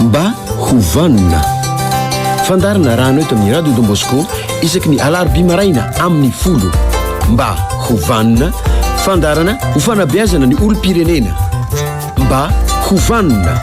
Mba ho vanona. Fandarina rano eto amin'ny Radio Don Bosco isaky ny alarobia maraina amin'ny folo. Mba ho vanona, fandarana ho fanabeazana ny olom-pirenena. Mba ho vanona.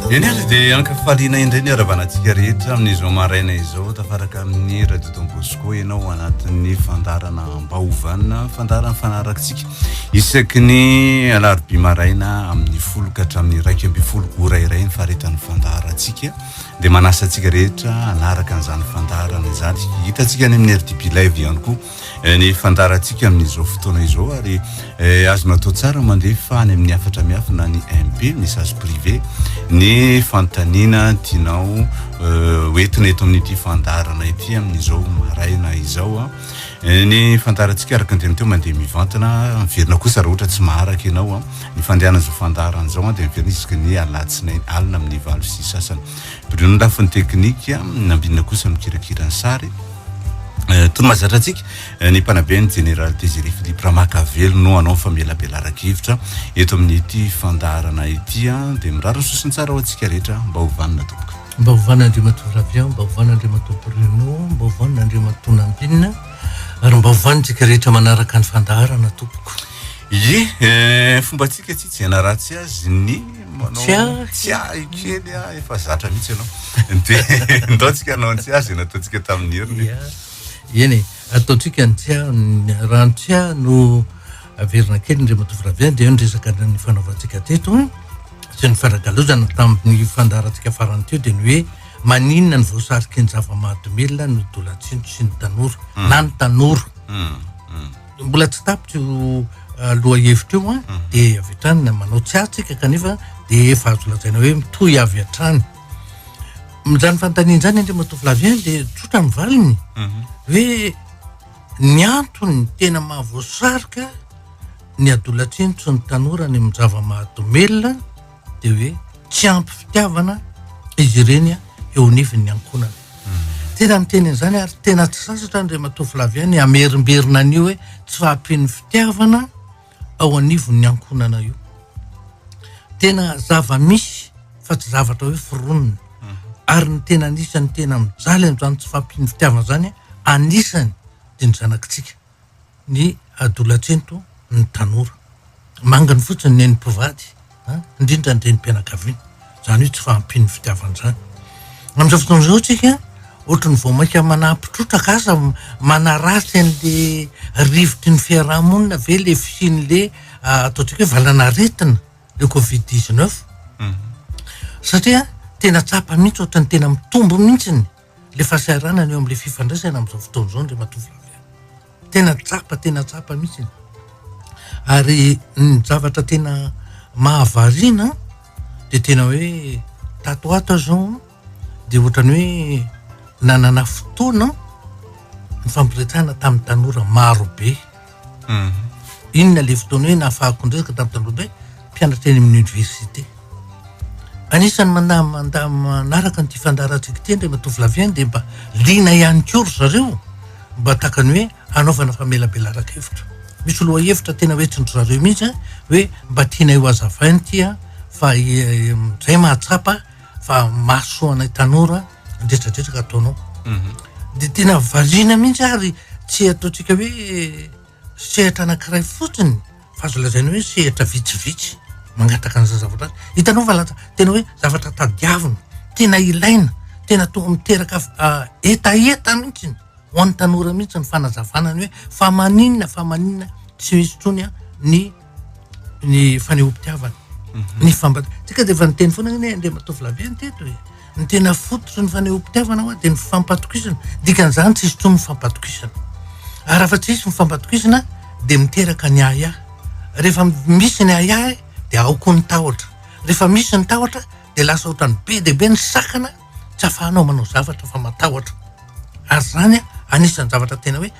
Eny ary dia ankafaliana indray ny haravanantsika rehetra amin'izao maraina izao tafaraka amin'ny radio Don Bosco ianao ao anatin'ny fandarana ambaovana fandarana fanaratsika isaky ny alarobia maraina amin'ny folo ka hatramin'ny iraika ambin'ny folo ora iray ny faharetan'ny fandarantsika dia manasa antsika rehetra hanaraka an'izany fandarana izany hitantsika any amin'ny RDB Live ihany koa ny fandaharantsika amin'izao fotoana izao ary eh, azonao atao tsara mandefa any amin'ny hafatra miafy na ny mp message privé ny fanontaniana tianao eh, hoentina eto amin'ity fandaharana ity amin'izao maraina izao a eh, ny fandaharantsika araka ny teny teo mandeha mivantana miverina kosa raha ohatra tsy maharaka ianao a ny fandehanan'izao fandaharan'izao a dia miverina isaky ny alatsinainy alina amin'ny valo sy sasany Brio-n'ny lafiny teknika, Nambinina kosa ny mikirakira ny sary. Tony mahazatra antsika ny mpanabe ny Jeneraly Désiré Philippe Ramakavelo no hanao famelabelaran-kevitra eto amin'ity fandaharana ity. Dia mirary ny sosony tsara ho antsika rehetra. Mba ho vanona tompoko. Mba ho vanona Andriamatoa Ravia, mba ho vanona Andriamatoa Bruno, mba ho vanona Andriamatoa Nambinina ary mba ho vanintsika rehetra manaraka ny fandaharana tompoko. Ye, fombantsika tsy hijanaratsy azy ny. Manao tsiahy kely ah, efa zatra mihitsy ianao. Dia ndaontsika anao ny tsiahy izay nataontsika tamin'ny heriny. Eny e, ataontsika ny tsiahy, raha ny tsiahy no averina kely indray matoa raviany dia eo ny resaka ny fanaovantsika teto sy ny faragalozana tamin'ny fandaharantsika farany teo dia ny hoe maninona ny voasariky ny zava-mahadomelina ny dolantsintso sy ny tanora hmm. na ny tanora hmm. Hmm. Mbola tsy tapitra io lohahevitra io an, dia avy hatrany na manao tsy atsika kanefa dia efa azo lazaina hoe mitohy avy hatrany. Amin'izany fanontaniana izany Andriamatoa Flavien dia tsotra ny valiny hoe ny antony tena mahavoasarika ny adolatsento sy ny tanora any amin'ny zava-mahadomelina dia hoe tsy ampy fitiavana izy ireny eo anivon'ny ankohonana tena miteny an'izany ary tena tsy sasatra ny rematoa flavian ny amerimberina an'io hoe tsy fahampian'ny fitiavana ao anivon'ny ankohonana io tena zava-misy fa tsy zavatra hoe foronina ary ny tena anisan'ny tena mijaly an'izany tsy fahampian'ny fitiavana izany anisany dia ny zanakitsika ny adolatsento ny tanora manginy fotsiny ny mpivady indrindra ny renim-pianakaviana izany hoe tsy fahampian'ny fitiavana izany amin'izao fotoana izao tsika ohatry ny vao mainka manampitrotraka aza manaratsy an'le rivotry ny fiarahamonina ve le fisian'le ah, ataontsika hoe valanaretina le covid 19 mhm. satria tena tsapa mihitsy ohatry ny tena mitombo mihitsy ny Ilay fahasahiranana eo amin'ilay fifandraisana amin'izao fotoana izao ry matoavavy a! Tena tsapa, tena tsapa mihitsy e! Ary ny zavatra tena mahavariana an, dia tena hoe tato ho ato aho izao an, dia ohatran'ny hoe nanana fotoana nifampiresahana tamin'ny tanora marobe. Inona ilay fotoana hoe nahafahako nirezaka tamin'i Tandrobe, mpianatra eny amin'ny oniversite. Anisan'ny manda- manda- manaraka an'ity fandaharantsika ity indray matoa any dia mba liana ihany koa ry zareo mba tahaka ny hoe hanaovana famelabelaran-kevitra. Misy lohahevitra tena hoe tsy ry zareo mihitsy hoe mba tianay ho hazavaina ity an, fa izay mahatsapa fa mahasoa anay tanora ndretradetraka ataonao mhm. de tena valiana mihitsy ary tsy ataontsika hoe sehatra anakiray fotsiny fa azo lazaina hoe sehatra vitsivitsy mangataka an'za zavatra hitanao fa lata tena hoe zavatra tadiavina tena ilaina tena tonga miteraka ah, etaeta mihitsiny ho an'ny tanora mihitsy ny fanazavanany hoe fa maninona fa maninona tsy misy tony a ny ny fanehoam-pitiavana mhm. ny fambat tsika dia efa niteny foana ny andriamatoa vlavia ny teto e ny tena fototry ny fanehoam-pitiavana hoa dia ny fampatokisana dikan'izany tsy izy toy ny fampatokisana ary afa tsy isy ny fampatokisana dia miteraka ny ahiahy rehefa misy ny ahiahy dia ao koa ny tahotra rehefa misy ny tahotra dia lasa ohatrany be dia be ny sakana tsy afahanao manao zavatra fa matahotra ary zany a anisan'ny zavatra tena hoe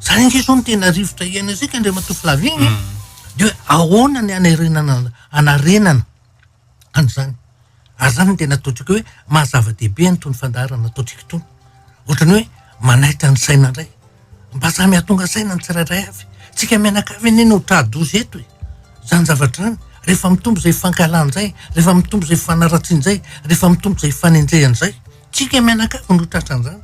Zany ange zao no tena rivotra iainantsika Andriamatoa Flavien e. Mm. Dia hoe ahoana ny hanarenana hanarenana an'izany. Ary zany no tena ataontsika hoe maha zava-dehibe an'itony fandaharana ataontsika itony. Ohatrany hoe manaitra ny saina indray. Mba samy hahatonga saina ny tsirairay avy. Tsika mianakavy anie no tra-doza eto e. Zany zavatra zany rehefa mitombo izay fankahalan'izay, rehefa mitombo izay fanaratsian'izay, rehefa mitombo izay fanenjehana izay. Tsika mianakavy no tratran'izany.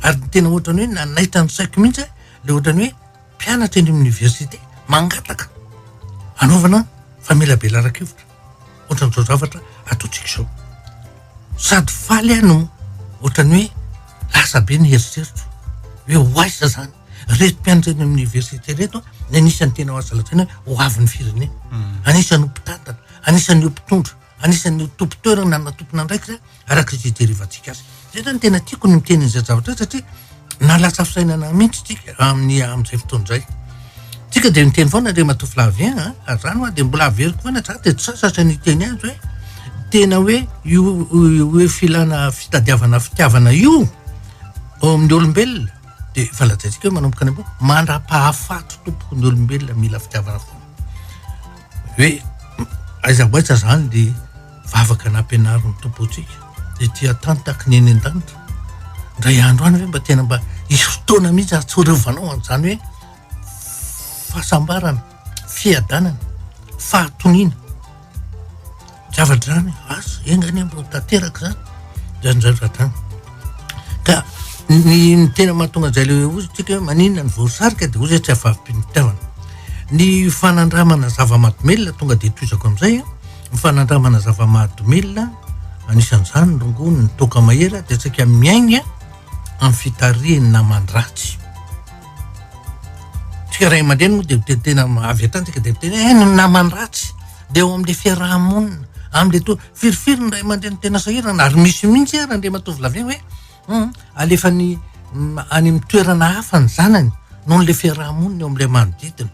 Ary ny tena ohatran'ny hoe nanaitra ny saiko mihitsy aho, ilay ohatran'ny hoe mpianatra eny amin'ny oniversite mangataka anaovana famelabelaran-kevitra ohatran'izao zavatra ataontsika izao. Sady faly aho no ohatran'ny hoe lasa be ny eritreritro hoe ho aiza zany reto mpianatra eny amin'ny oniversite reto ny anisan'ny tena azo lazaina hoe ho avin'ny firenena. Anisan'ny ho mpitantana, anisan'ny ho mpitondra, anisan'ny ho tompon-toerana na tompon'andraikitra araka izay ijerevantsika azy. Zay zany tena tiako ny miteny izay zavatra izay satria na lasa fisainana mihitsy tsika amin'ny amin'izay fotoana izay. Tsika dia miteny foana dia matoa Flavien a, ah, ary zany hoa dia mbola averiko foana tsara dia tsy sasatra ny teny azy hoe tena hoe io hoe filana fitadiavana fitiavana io ao amin'ny olombelona dia efa lazaintsika hoe manomboka any amboa mandra-pahafaty tompoko ny olombelona mila fitiavana foana hoe aiza ho aiza zany dia Vavaka nampianarin'ny Tompo antsika dia tsy hatantaky ny eny an-danitra. Indray andro any ve mba tena mba hisy fotoana mihitsy hahatsiarovanao an'izany hoe fahasambarana, fiadanana, fahatoniana. Zavatra izany, asa, enga anie mba tanteraka izany, izany izany vatrany. Ka ny ny tena mahatonga an'izay le ozy tsika hoe maninona ny voasarika dia ozy tsy avavim-pitiavana. Ny fanandramana zava-mahadomelina tonga dia toizako amin'izay, Ny fanandramana zava-mahadomelina, anisan'izany ny rongony, ny toaka mahery, dia antsika miaigna amin'ny fitarihin'ny naman-dratsy. Tsika ray aman-dreny moa dia tena avy hatrany tsika dia miteny eh, ny naman-dratsy dia ao amin'ilay fiaraha-monina, amin'ilay to firifiry ny ray aman-dreny tena sahirana ary misy mihitsy ary Andriamatoa Volaviana hoe um alefany any amin'ny toerana hafa ny zanany noho ilay fiaraha-monina eo amin'ilay manodidina.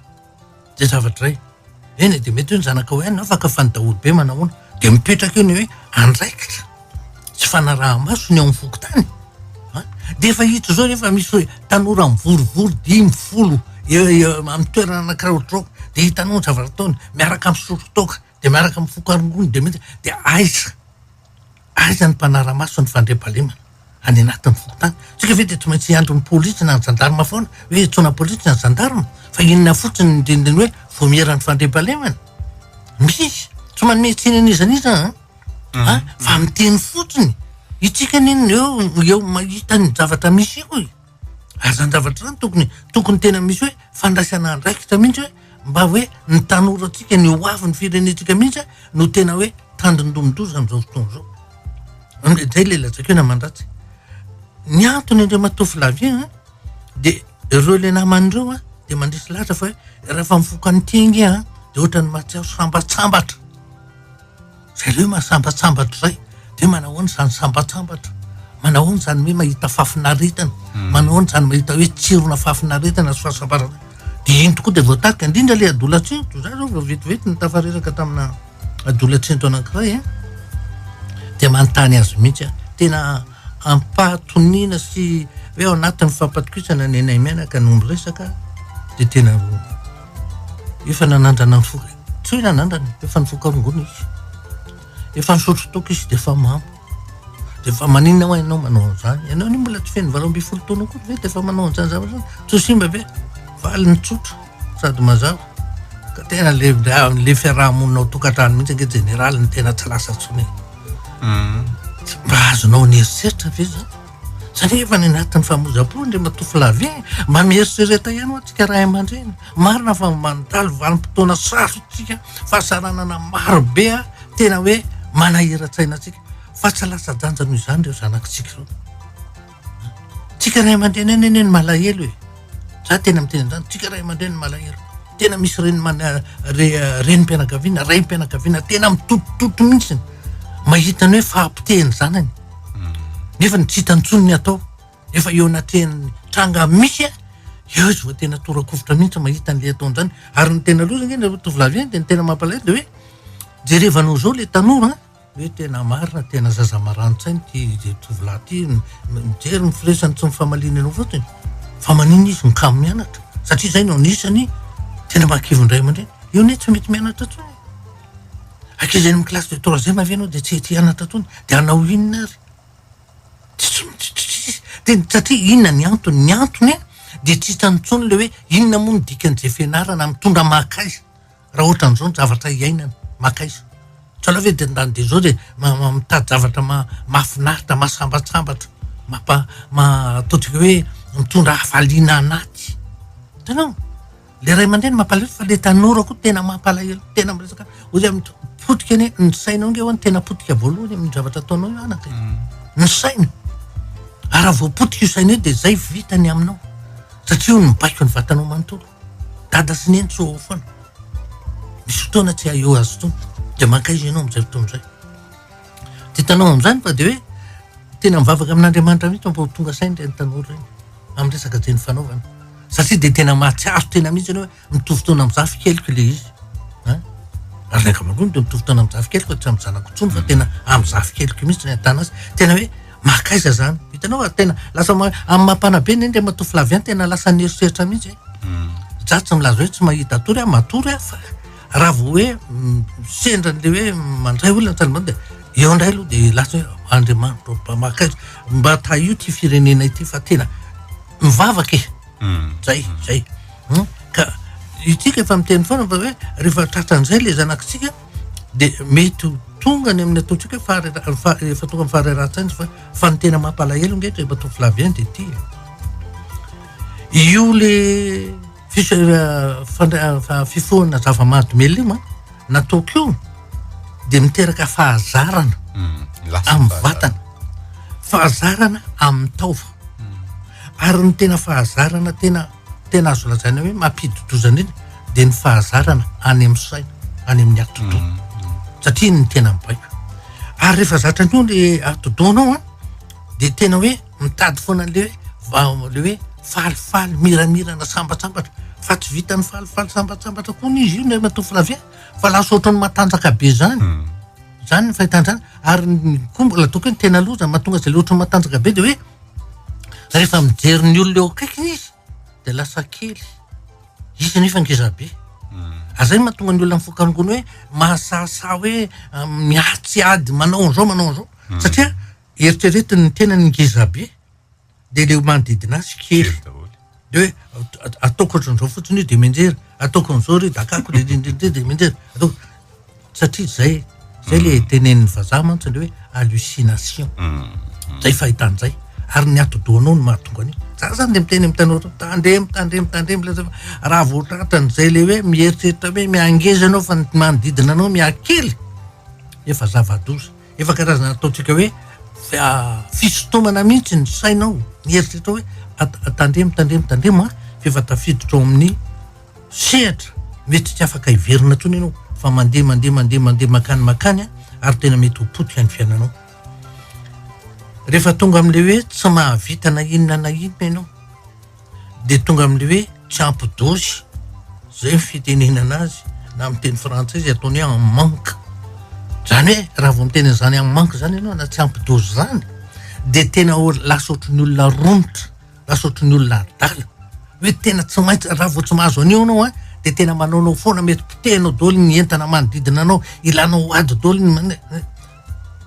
Dia zavatra iray, eny e, dia mety hoe ny zanakao ihany no afaka fa ny daholobe manahoana? Dia mipetraka eo ny hoe andraikitra sy fanaraha-maso ny ao amin'ny fokontany a, dia efa hita izao rehefa misy hoe tanora mivorivory dimy folo amin'ny toerana anankiray ohatr'izao, dia hitanao ny zavatra ataony, miaraka misotro toaka, dia miaraka mifoka rongony, dia mety dia aiza? Aiza ny mpanara-maso ny fandriampahalemana any anatin'ny fokontany? Tsika ve dia tsy maintsy hiandry ny polisy na ny zandarma foana hoe hentsoana polisy ny zandarma? Fa inona fotsiny ny dindiny hoe voamieran'ny fandriampahalemana? Misy tsy manome tsiny an'iza n'iza an? Mhm. Ah, fa miteny fotsiny. Itsika anie ny eo, eo mahita ny zavatra misy eo e. Ary zany zavatra zany tokony tokony tena misy hoe fandraisana andraikitra mihitsy hoe mba hoe ny tanorantsika ny ho avy ny firenentsika mihitsy no tena hoe tandindomin-doza am'izao fotoana izao. Amle zay le lazaiko na mandratsy. Ny antony indray matoa Flavien a de ireo le namany ireo a de mandresy lahatra fa hoe raha fa mifoka an'ity ange a de ohatran'ny mahatsiaro sambatsambatra. Jereo mahasambatsambatra izay dia manahoana izany sambatsambatra, manahoana izany hoe mahita fahafinaretana, hmm. manahoana izany mahita hoe tsirona fahafinaretana sy fahasambarana. Dia iny tokoa dia voatarika, indrindra ilay adolatsento, za zao vao vetivety ny tafareraka tamina adolatsento anankiray, eh. dia manontany azy mihitsy aho, tena ampahatoniana sy hoe ao anatin'ny fampatokisana ny anay mianaka no miresaka, dia tena efa nanandrana ny foka. Tsoy nanandrana efa nivoaka rongony izy. Efa nisotro toaka izy dia efa mamo. Dia efa maninona hoa ianao manao an'izany? Ianao anie mbola tsy feno valo ambin'ny folo taona akory ve dia efa manao an'izany zavatra izany? Tsy ho simba ve? Valiny tsotra sady mazava. Ka tena le le fiarahamonina ao tokantrano mihitsy ange jeneraly no tena tsy lasa intsony. Mba azonao an'eritreritra ve izany? Sa ve efa any anatin'ny famozam-po Andriamatoa Flavien? Mba mieritrereta ihany hoa antsika ray aman-dreny. Marina fa mandalo vanim-potoana sarotra isika, fahasaranana maro be tena hoe manahiran-tsaina antsika, fa tsy latsa-danja noho izany ireo zanakitsika ireo. Tsika ray aman-dreny any anie no malahelo e! Za tena miteny an'izany, tsika ray aman-dreny no malahelo. Tena misy reny mana- re- eh, renim-pianakaviana, raim-pianakaviana tena mitotototto mihitsy mahita ny hoe fahapotehin'ny zanany. nefa ny tsy hita ntsony ny atao efa eo anatrehan'ny tranga misy a eo izy vao tena torakovitra mihitsy mahita an'le ataon'izany ary ny tena loza nge nareo tovolahy eny de ny tena mampalahelo de hoe jerevanao zao le tanora hoe tena marina tena zaza marani-tsaina ty tovolahy ty mijery ny firesany tsy ny famaliany anao fotsiny fa manina izy mikamo mianatra satria zay no anisany tena mahakivy ny ray aman-dreny io anie tsy mety mianatra ntsony Ankizy any amin'ny classe de troisième ve ianao dia tsy tia hianatra intsony? Dia hanao inona ary? Satria inona ny antony? Ny antony an, dia tsy hitany intsony ilay hoe inona moa ny dikan'izay fianarana? Mitondra maka aiza raha ohatran'izao ny zavatra iainana? Maka aiza? Tsy aleo ve dia ndany dia izao dia mitady zavatra mahafinaritra, mahasambatsambatra, mampa- ataontsika hoe mitondra hafaliana anaty. Hitanao? le ray aman-dreny mampalahelo fa le tanora koa tena mampalahelo tena miresaka ozy am potika anie ny sainao nge hoany tena potika voalohany amin'ny zavatra ataonao io anaka mm. ny saina araha voapotika io saina io de zay vitany aminao satria io nybaiko ny vatanao manontolo dada sy neny tsy oao foana misy fotoana tsy aeo azy tony de mankaiza ianao am'izay fotoana zay Dia hitanao amin'izany fa dia hoe tena mivavaka amin'Andriamanitra mihitsy mba ho tonga saina ireny tanora ireny amin'ny resaka dieny fanaovana. Satria dia tena mahatsiaro tena mihitsy ianao hoe mitovy taona amin'ny zafy keliko ilay izy. Ary ny ankamaroany dia mitovy taona amin'ny zafy keliko tsy amin'ny zanako intsony fa tena amin'ny zafy keliko mihitsy ny ahitana azy. Tena hoe makaiza izany. Hitanao fa tena lasa amin'ny mampanabe ny endrika matoa filaviany tena lasa ny herisetra mihitsy. Za tsy milaza hoe tsy mahita tory aho, matory aho fa Raha vao hoe sendra an'ilay hoe mandray olona tany ambany dia eo indray aloha dia lasa hoe Andriamanitro mpamaka azy mba tahio ity firenena ity fa tena mivavaka e zay zay ka itsika efa miteny foana fa hoe rehefa tratran'izay le zanakitsika dia mety ho tonga ny amin'ny ataontsika hoe fahare- fa- efa tonga amin'ny faharerahan-tsaina fa fa ny tena mampalahelo nge eto efa to filavian dia ity io le fifohana zava-mahadomelina nataoko io dia miteraka fahazarana hmm, amin'ny vatana fahazarana amin'ny taova hmm. ary ny tena fahazarana tena tena azo lazaina hoe mampididozana iny dia ny fahazarana any amin'ny saina any amin'ny atodoa hmm, satria ny tena mibaiko ary rehefa zatra an'io ny atodoanao a dia tena hoe mitady foana an'ilay hoe ilay hoe falifaly miramirana sambatsambatra fa tsy vita ny falifaly sambatsambatra koa ny izy io ny matoa flavia fa lasa ohatrany matanjaka be zany hmm. zany ny fahitanzany ary koa mbola ataoko hoe ny tena loza mahatonga izay le ohatrany matanjaka be de hoe rehefa mijery ny olona eo akaikiny izy dia lasa kely izy nefa ngeza be ary zay mahatonga ny olona mifoka amin'ny gony hoe mahasahasaha hoe ah, miady tsy ady manao an'izao manao an'izao hmm. satria eritreretiny ny tenany ngeza be dia le manodidina azy kely de hoe ataoko ohatran'izao fotsiny io dia menjery ataoko an'izao ry dakako de menjery ataoko satria zay zay le tenenin'ny vazaha mantsy le hoe hallucination zay fahitany zay ary ny atidohanao no mahatonga an'io za zany de miteny am tanora tandremo tandremo tandremo le raha vao tratany zay le hoe mieritreritra hoe miangeza anao fa ny manodidina anao miakely efa zava-doza efa karazana ataontsika hoe fisintomana mihitsy ny sainao mieritreritra hoe tandremo tandremo tandremo a f'efa tafiditra ao amin'ny sehatra mety tsy afaka hiverina intsony ianao fa mandeha mandeha mandeha mandeha makany makany a ary tena mety ho potika ny fiainanao rehefa tonga amin'ilay hoe tsy mahavita na inona na inona ianao dia tonga amin'ilay hoe tsy ampy dosy zay ny fitenenana azy na amin'ny teny frantsay izy ataony hoe en manque zany hoe raha vao miteny an'izany en manque zany ianao na tsy ampy dosy zany dia tena lasa ohatry ny olona romotra Nasotro ny olona adala. Hoe tena tsy maintsy raha vao tsy mahazo an'io anao a dia tena manaonao foana mety potehinao daholo ny entana manodidina anao, ilanao ady daholo ny mane-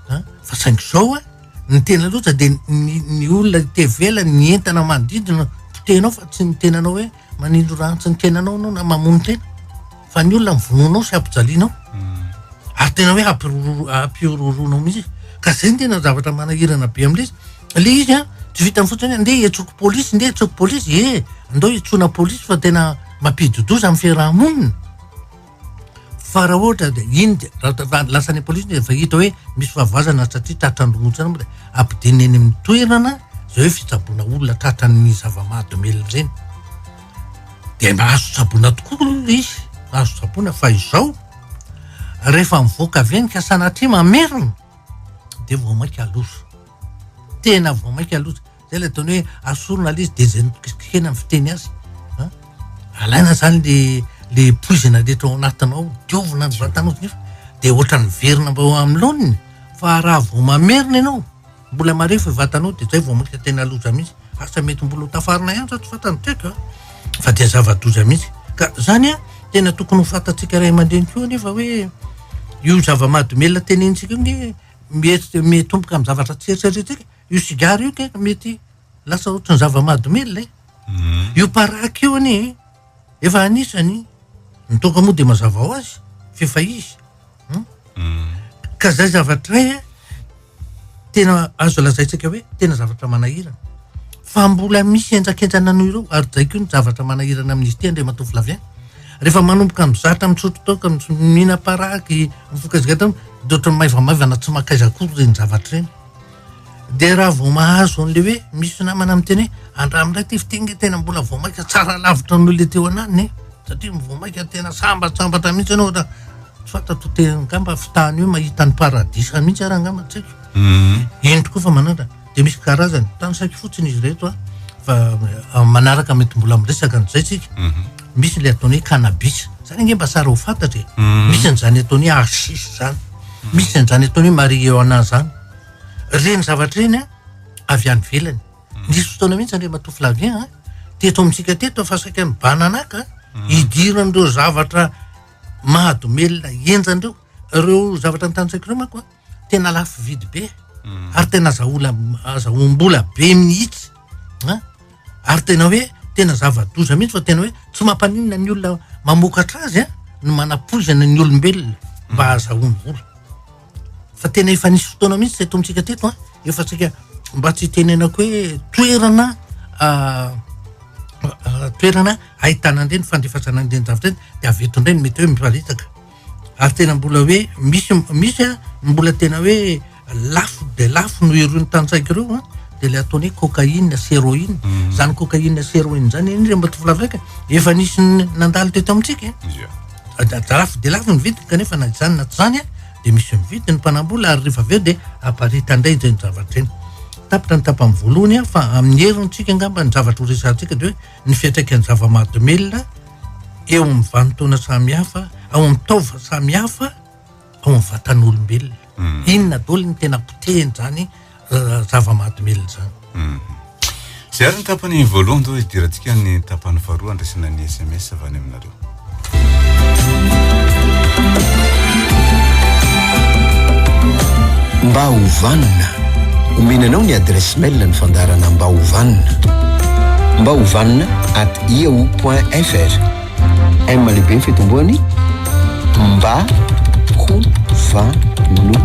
a fa saingy izao a ny tena loza dia ny ny olona te hivela ny entana manodidina potehinao fa tsy ny tenanao hoe Manindro ratsy ny tenanao anao na mamono tena fa ny olona mivonoanao sy ampijalianao hmm. ary tena hoe ampihorohoroanao mihitsy ka zay ny tena zavatra manahirana be amle izy le izy a tsy vitany fotsiny nde etsoko polisy nde etsoko polisy e eh, ndao itsona polisy fa tena mampididoza amin'ny fiarahamonina Fa raha ohatra dia iny dia raha ohatra fa lasa any am-polisy dia efa hita hoe misy fahavoazana satria tratra andromontana moa dia ampidirina eny amin'ny toerana izay hoe fitsaboana olona tratra ny zava-mahadomelina ireny. Dia mba azo tsaboina tokoa aloha izy, azo tsaboina fa izao rehefa mivoaka avy eny ka sanatria mamerina dia vao mainka loza. Tena vao mainka loza. Zay le ataony hoe asorina le izy de zay nokisikisihina ny fiteny azy a alaina zany le le poizina rehetra ao anatinao diovina ny vatanao nefa de ohatran'ny verina mba ao amin'ny laoniny fa raha vao mamerina ianao mbola marefo i vatanao de zay vao miditra tena loza mihitsy asa mety mbola ho tafarina ihany zao tsy fantany toetra a fa dia zava-doza mihitsy ka zany a tena tokony ho fantatsika ray aman-dreny koa nefa hoe io zava-mahadomelina tenenitsika io nge mihetsika mitomboka amin'ny zavatra tsy eritreritsika Io sigara io kay mety lasa ohatran'ny zava-mahadomelina e. Io paraky io anie efa anisany ny toaka moa dia mazava ho azy f'efa izy. Ka zay zavatra e tena azo lazaintsika hoe tena zavatra manahirana. Fa mbola misy henjakenjana noho ireo ary zay koa ny zavatra manahirana amin'izy ity Andriamatoa Flavien. Rehefa manomboka mizatra misotro toaka, mihinam-paraky, mifoka sigara dia ohatran'ny maivamaivana tsy mankaiza akory ireny zavatra ireny. Dia raha vao mahazo an'ilay hoe misy namana miteny hoe andramo indray ity fiteny tena mbola vao mainka tsara lavitra noho ilay teo ananiny e. satria vao mainka tena sambatsambatra mihitsy ianao ohatra tsy fanta to tena angamba fitahany hoe mahita ny paradisa mihitsy ary angamba tsy haiko mhm. eny tokoa fa manatra dia misy karazany tany saiky fotsiny izy reto a fa manaraka mety mbola miresaka an'izay tsika mhm. Misy ilay ataony hoe cannabis. Izany ange mba tsara ho fantatra e. Misy an'izany ataony hoe hashish izany. Misy an'izany ataony hoe marijuana izany. Ireny zavatra ireny an, avy any ivelany. Nisy fotoana mihitsy Andriamatoa Flavien an, teto amintsika teto fa saika mibananaka hidira an'ireo zavatra mahadomelina henjana ireo. Ireo zavatra notanisaiko ireo manko an, tena lafo vidy be hmm. ary tena zaola azahoam-bola be mihitsy a ary tena hoe tena zava-doza mihitsy fa tena hoe tsy mampaninona ny olona mamokatra azy a ny manapoizana ny olombelona hmm. mba azahoany vola fa tena efa nisy fotoana mihitsy tsy atontsika teto a efa tsika mba tsy tenenako hoe toerana ah, ah, toerana ahitana ndreny fandefasanandreny zavatra eny de avy eto ndreny mety hoe miparitaka ary tena mbola hoe misy misy a ny mbola tena hoe lafo dia lafo no irony tantsaika ireo a dia le ataony hoe cocaïne sy héroïne mhm. zany cocaïne sy héroïne zany eny reo mba tovolavreka efa nisy nandalo teto amintsika e. lafo dia lafo ny vidiny kanefa na izany na tsy zany a dia misy mividy ny mpanambola ary rehefa avy eo dia aparita indray izay ny zavatra eny tapitra ny tapany voalohany a fa amin'ny herintsika angamba ny zavatra ho resahantsika dia hoe ny fiantraikan'ny zava-mahadomelina eo amin'ny vanintaona samihafa, ao amin'ny taova samihafa, ao amin'ny vatan'olombelona. Hmm. Inona daholo ny tena potehin'izany eh, zava-mahadomelina izany. Hmm. Zay ary ny tapany voalohany izao idirantsika ny tapany faharoa andraisana ny SMS avy any aminareo. Mba ho vanona. Omena anao ny adresse mail ny fandarana mba ho vanona. Mba ho vanona at yahoo.fr. M lehibe ny fitomboany mba ho vanona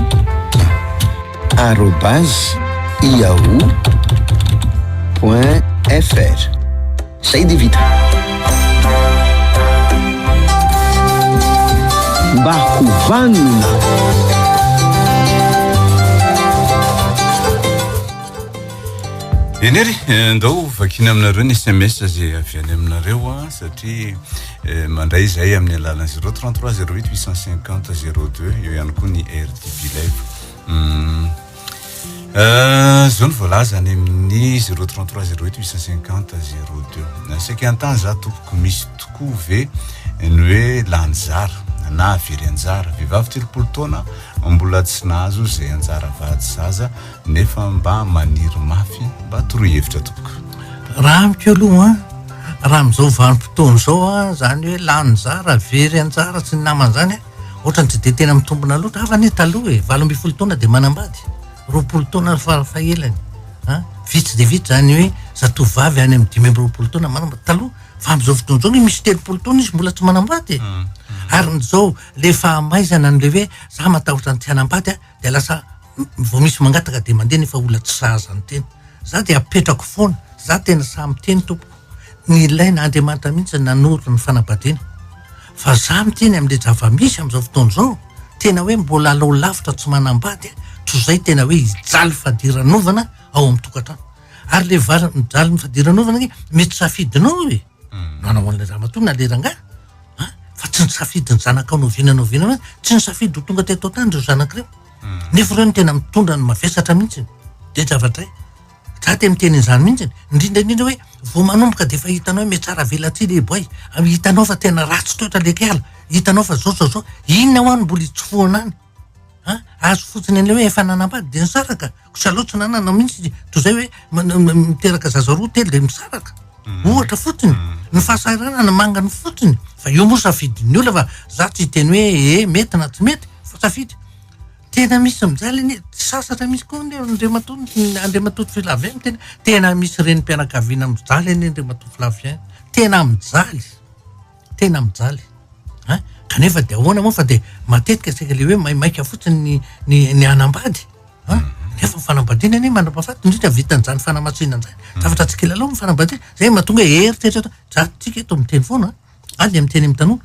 arobase yahoo.fr. Zay dia vita. Mba ho vanona. Eny ary, eh, ndao vakina aminareo ny SMS zay avy any aminareo a, ah, satria eh, mandray zay amin'ny alalan'ny 033 08 850 02 eo ihany koa ny RTB Live. Hmm. Zao ny voalaza any amin'ny zero trente trois zero huit huit cent cinquante zero deux. Saika an-tany za tompoko, misy tokoa ve ny hoe lany zara na very anjara? Vehivavy telopolo taona mbola tsy nahazo izay anjara vady zaza nefa mba maniry mafy, mba toroy hevitra tompoko. Raha amiko aloha an, raha amin'izao vanim-potoana izao an, izany hoe lany zara, very anjara sy ny namany izany an, Ohatrany tsy dia tena mitombona loatra. Hafa anie taloha e, valo ambin'ny folo taona dia manambady, roapolo taona farafahelany. Hein? Vitsy dia vitsy zany hoe zatovo vavy any amin'ny dimy amby roapolo taona manambady. Taloha, fa amin'izao fotoana izao ny misy telopolo taona izy mbola tsy manambady e. Mm, mm. Ary izao le fahamaizana an'le hoe za matahotra ny tsy hanambady a, dia lasa vao misy mangataka dia mandeha nefa olona tsy sahaza ny teny za dia apetrako foana za tena saha miteny tompoko ny ilaina andriamanitra mihitsy nanoro ny fanabadiana fa za miteny am'le javamisy am'izao fotoana izao tena hoe mbola alao lavitra tsy manambady tozay tena hoe hijaly fadiranovana ao amin'ny tokantrano ary le vary mijaly ny fadiranovana ny mety safidinao e Nanao an'ilay ramatoa na le rangahy a, fa tsy nisafidy ny zanakao noviana noviana mihitsy, tsy nisafidy ho tonga teto an-tany ireo zanaka ireo, nefa ireo no tena mitondra ny mavesatra mihitsy, dia zavatra iray, za te miteny an'izany mihitsy, indrindra indrindra hoe vao manomboka dia efa hitanao hoe miatsaravelatsihy le boay, hitanao fa tena ratsy toetra le kiala, hitanao fa zao zao zao, inona hoa no mbola hitsofohana any. An, azo fotsiny an'ilay hoe efa nanambady dia nisaraka. Koa salao tsy nanana mihitsy toy izay hoe miteraka zaza roa telo dia misaraka. Mm. ohatra fotsiny mm. ny fahasahiranana mangany fotsiny fa io moa safidin'ny olona fa za tsy hiteny hoe e eh, mety na tsy mety fa safidy tena misy amizay leny tsy sasatra misy koa ny andriamatoa andriamatoa filavien tena tena misy reny mpianakaviana mijaly eny andriamatoa filavien tena mijaly Tena mijaly an! Kanefa dia ahoana moa fa dia matetika saika ilay hoe maimaika fotsiny ny ny hanambady an! Nefa ny fanambadiana anie manam-pahafaty indrindra vitan'izany fanamasinana izany. Zavatra tsy kilalao ny fanambadiana. Izay no mahatonga eritreritra eto. Zatsika eto miteny foana an! Ary dia miteny amin'ny tanora.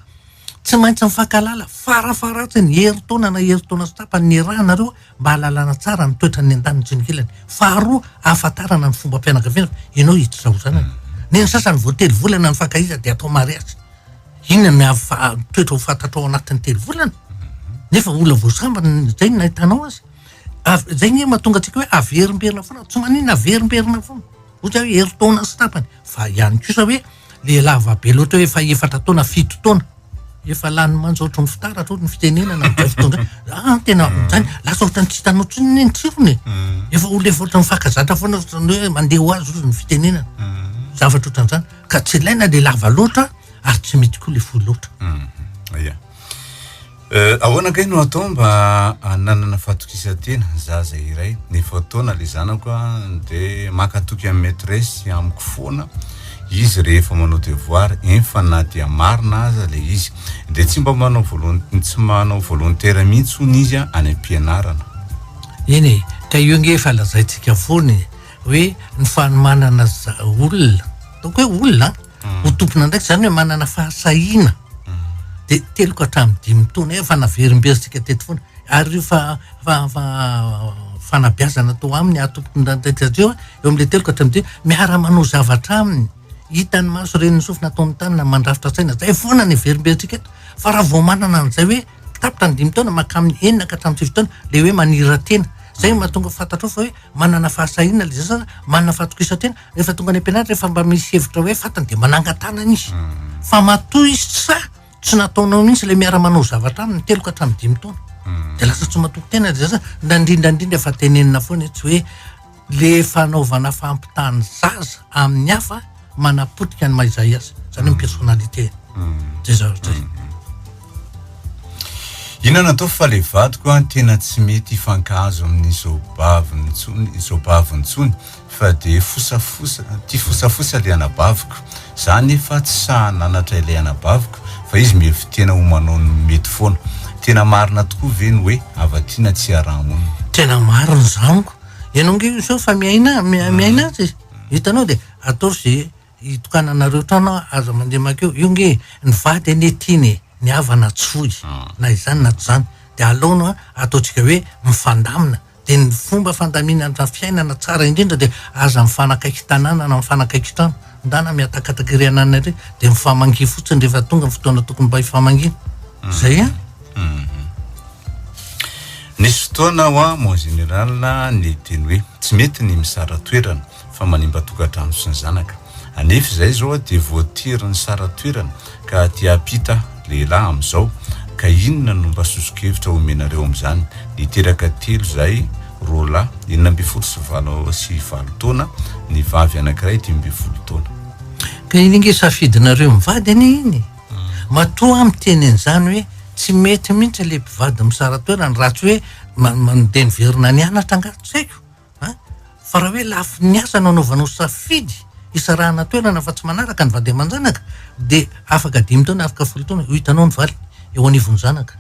Tsy maintsy mifankahalala farafaharatsin'ny herintaona na herintaona sy tapany niarahanareo mba hahalalana tsara ny toetra ny andaniny sy ny kilany. Faharoa, ahafantarana ny fombam-pianakaviana fa ianao io tsy zao zanany. Neny sasany vao telo volana ny fankahizana dia atao mariazy. Inona ny hafa- toetra ho fantatrao anatin'ny telo volana? Nefa olona vao sambany ny- izay no nahitanao azy. Av- izay nge mahatonga antsika hoe averimberina foana, tsy maninona averimberina foana. Ohatra hoe herintaona sy tapany. Fa ihany kosa hoe le lava be loatra hoe efa efatra taona fito taona efa lany manja ohatry ny fitaratra ohatry ny fitenenana ny fitondra ah tena zany lasa ohatry ny tsy hitanao tsy ny tsirony mm. efa olona efa ohatry ny fakazatra foana ohatry ny hoe mandeha ho azy ohatry ny fitenenana mm. zavatra ohatran'izany ka tsy ilaina le lava loatra ary tsy mety koa le fohy loatra mm. Eh, ahoana kay no atao mba hananana fahatokisan-tena zaza iray? Ny efa taona ilay zanako a, dia maka toky amin'ny maîtresse sy amiko foana izy rehefa manao devoir, enfa na dia marina aza ilay izy. Dia tsy mba manao volon- tsy manao volontaire mihitsy hono izy a, any am-pianarana. Eny e, ka io ange efa lazaintsika foana e, hoe ny fanomanana za- olona, ataoko hoe olona an, ho tompon'andraikitra, izany hoe manana fahasahiana, dia telo ka hatramin'ny dimy taona eo, efa naverimberitsika teto foana, ary io fa, fa, fa fanabeazana atao aminy ahatompon'andraikitra azy io, eo amin'ilay telo ka hatramin'ny dimy, miara-manao zavatra aminy, hitan'ny maso, ren'ny sofina, ataon'ny tanana, mandrafitra saina, izay foana no heverimberitsika eto, fa raha vao manana an'izay hoe tapitra ny dimy taona mankamin'ny enina ka hatramin'ny sivy taona, ilay hoe manira-tena, izay no mahatonga fantatrao fa hoe manana fahasahiana ilay zaza, manana fahatokisan-tena. Rehefa tonga any am-pianarana rehefa mba misy hevitra hoe fantany dia manangan-tanana izy. Hmm. Fa matoa izy tsy sahy, tsy nataonao mihitsy ilay miara-manao zavatra aminy telo ka hatramin'ny dimy taona. Hmm. Dia lasa tsy matoky tena ry zaza. Na indrindra indrindra efa tenenina foana etsy hoe le fanaovana fampitany zaza amin'ny hafa manapotika ny maizay azy. Izany ny personnalité. Hmm. Zay zavatra zay. Ina natao fa le vadiko a tena tsy mety hifankahazo amin'izao baviny intsony izao baviny intsony Fa dia fosafosa, tia fosafosa ilay anabaviko. Za anefa tsy sahy nanatra ilay anabaviko fa izy mihevi-tena ho manao ny mety foana. Tena marina tokoa ve ny hoe hava-tiana tsy hiaraha-monina? Tena marina izany. Ianao ange izao efa miaina miaina azy, hitanao dia ataovy izay Itokananareo trano an, aza mandeha makeo, io nge ny vady anie tiany e, ny havana tsy foy na izany na tsy izany, dia alaono an, ataontsika hoe mifandamina, dia ny fomba fandaminana fiainana tsara indrindra dia aza mifanakaiky tanàna na mifanakaiky trano, ndana mihatakataka ery anana ery, dia mifamangia fotsiny rehefa tonga ny fotoana tokony mba hifamangiana, izay an. Nisy fotoana ho'a mon général ny teny hoe tsy mety ny mizara toerana. fa manimba tokantrano sy ny zanaka anefa izay izao dia voatiry ny sara toerana ka aty ampita lehilahy amizao ka inona no mba sosokevitra omenareo amizany niteraka telo zahay roa lahy enina ambin'ny folo sy valo sy valo taona ny vavy anakiray dimy ambin'ny folo taona. Ka iny nge safidinareo mivady anie iny matoa miteny anizany hoe tsy mety mintsy le mpivady misara toerana raha tsy hoe manodeniverina nianatra nga tsy haiko. An! Fa raha hoe lafiny asa no anaovanao safidy hisarahana toerana fa tsy manaraka ny vady aman-janaka dia afaka dimy taona, afaka folo taona, ho hitanao ny valiny eo anivon'ny zanaka.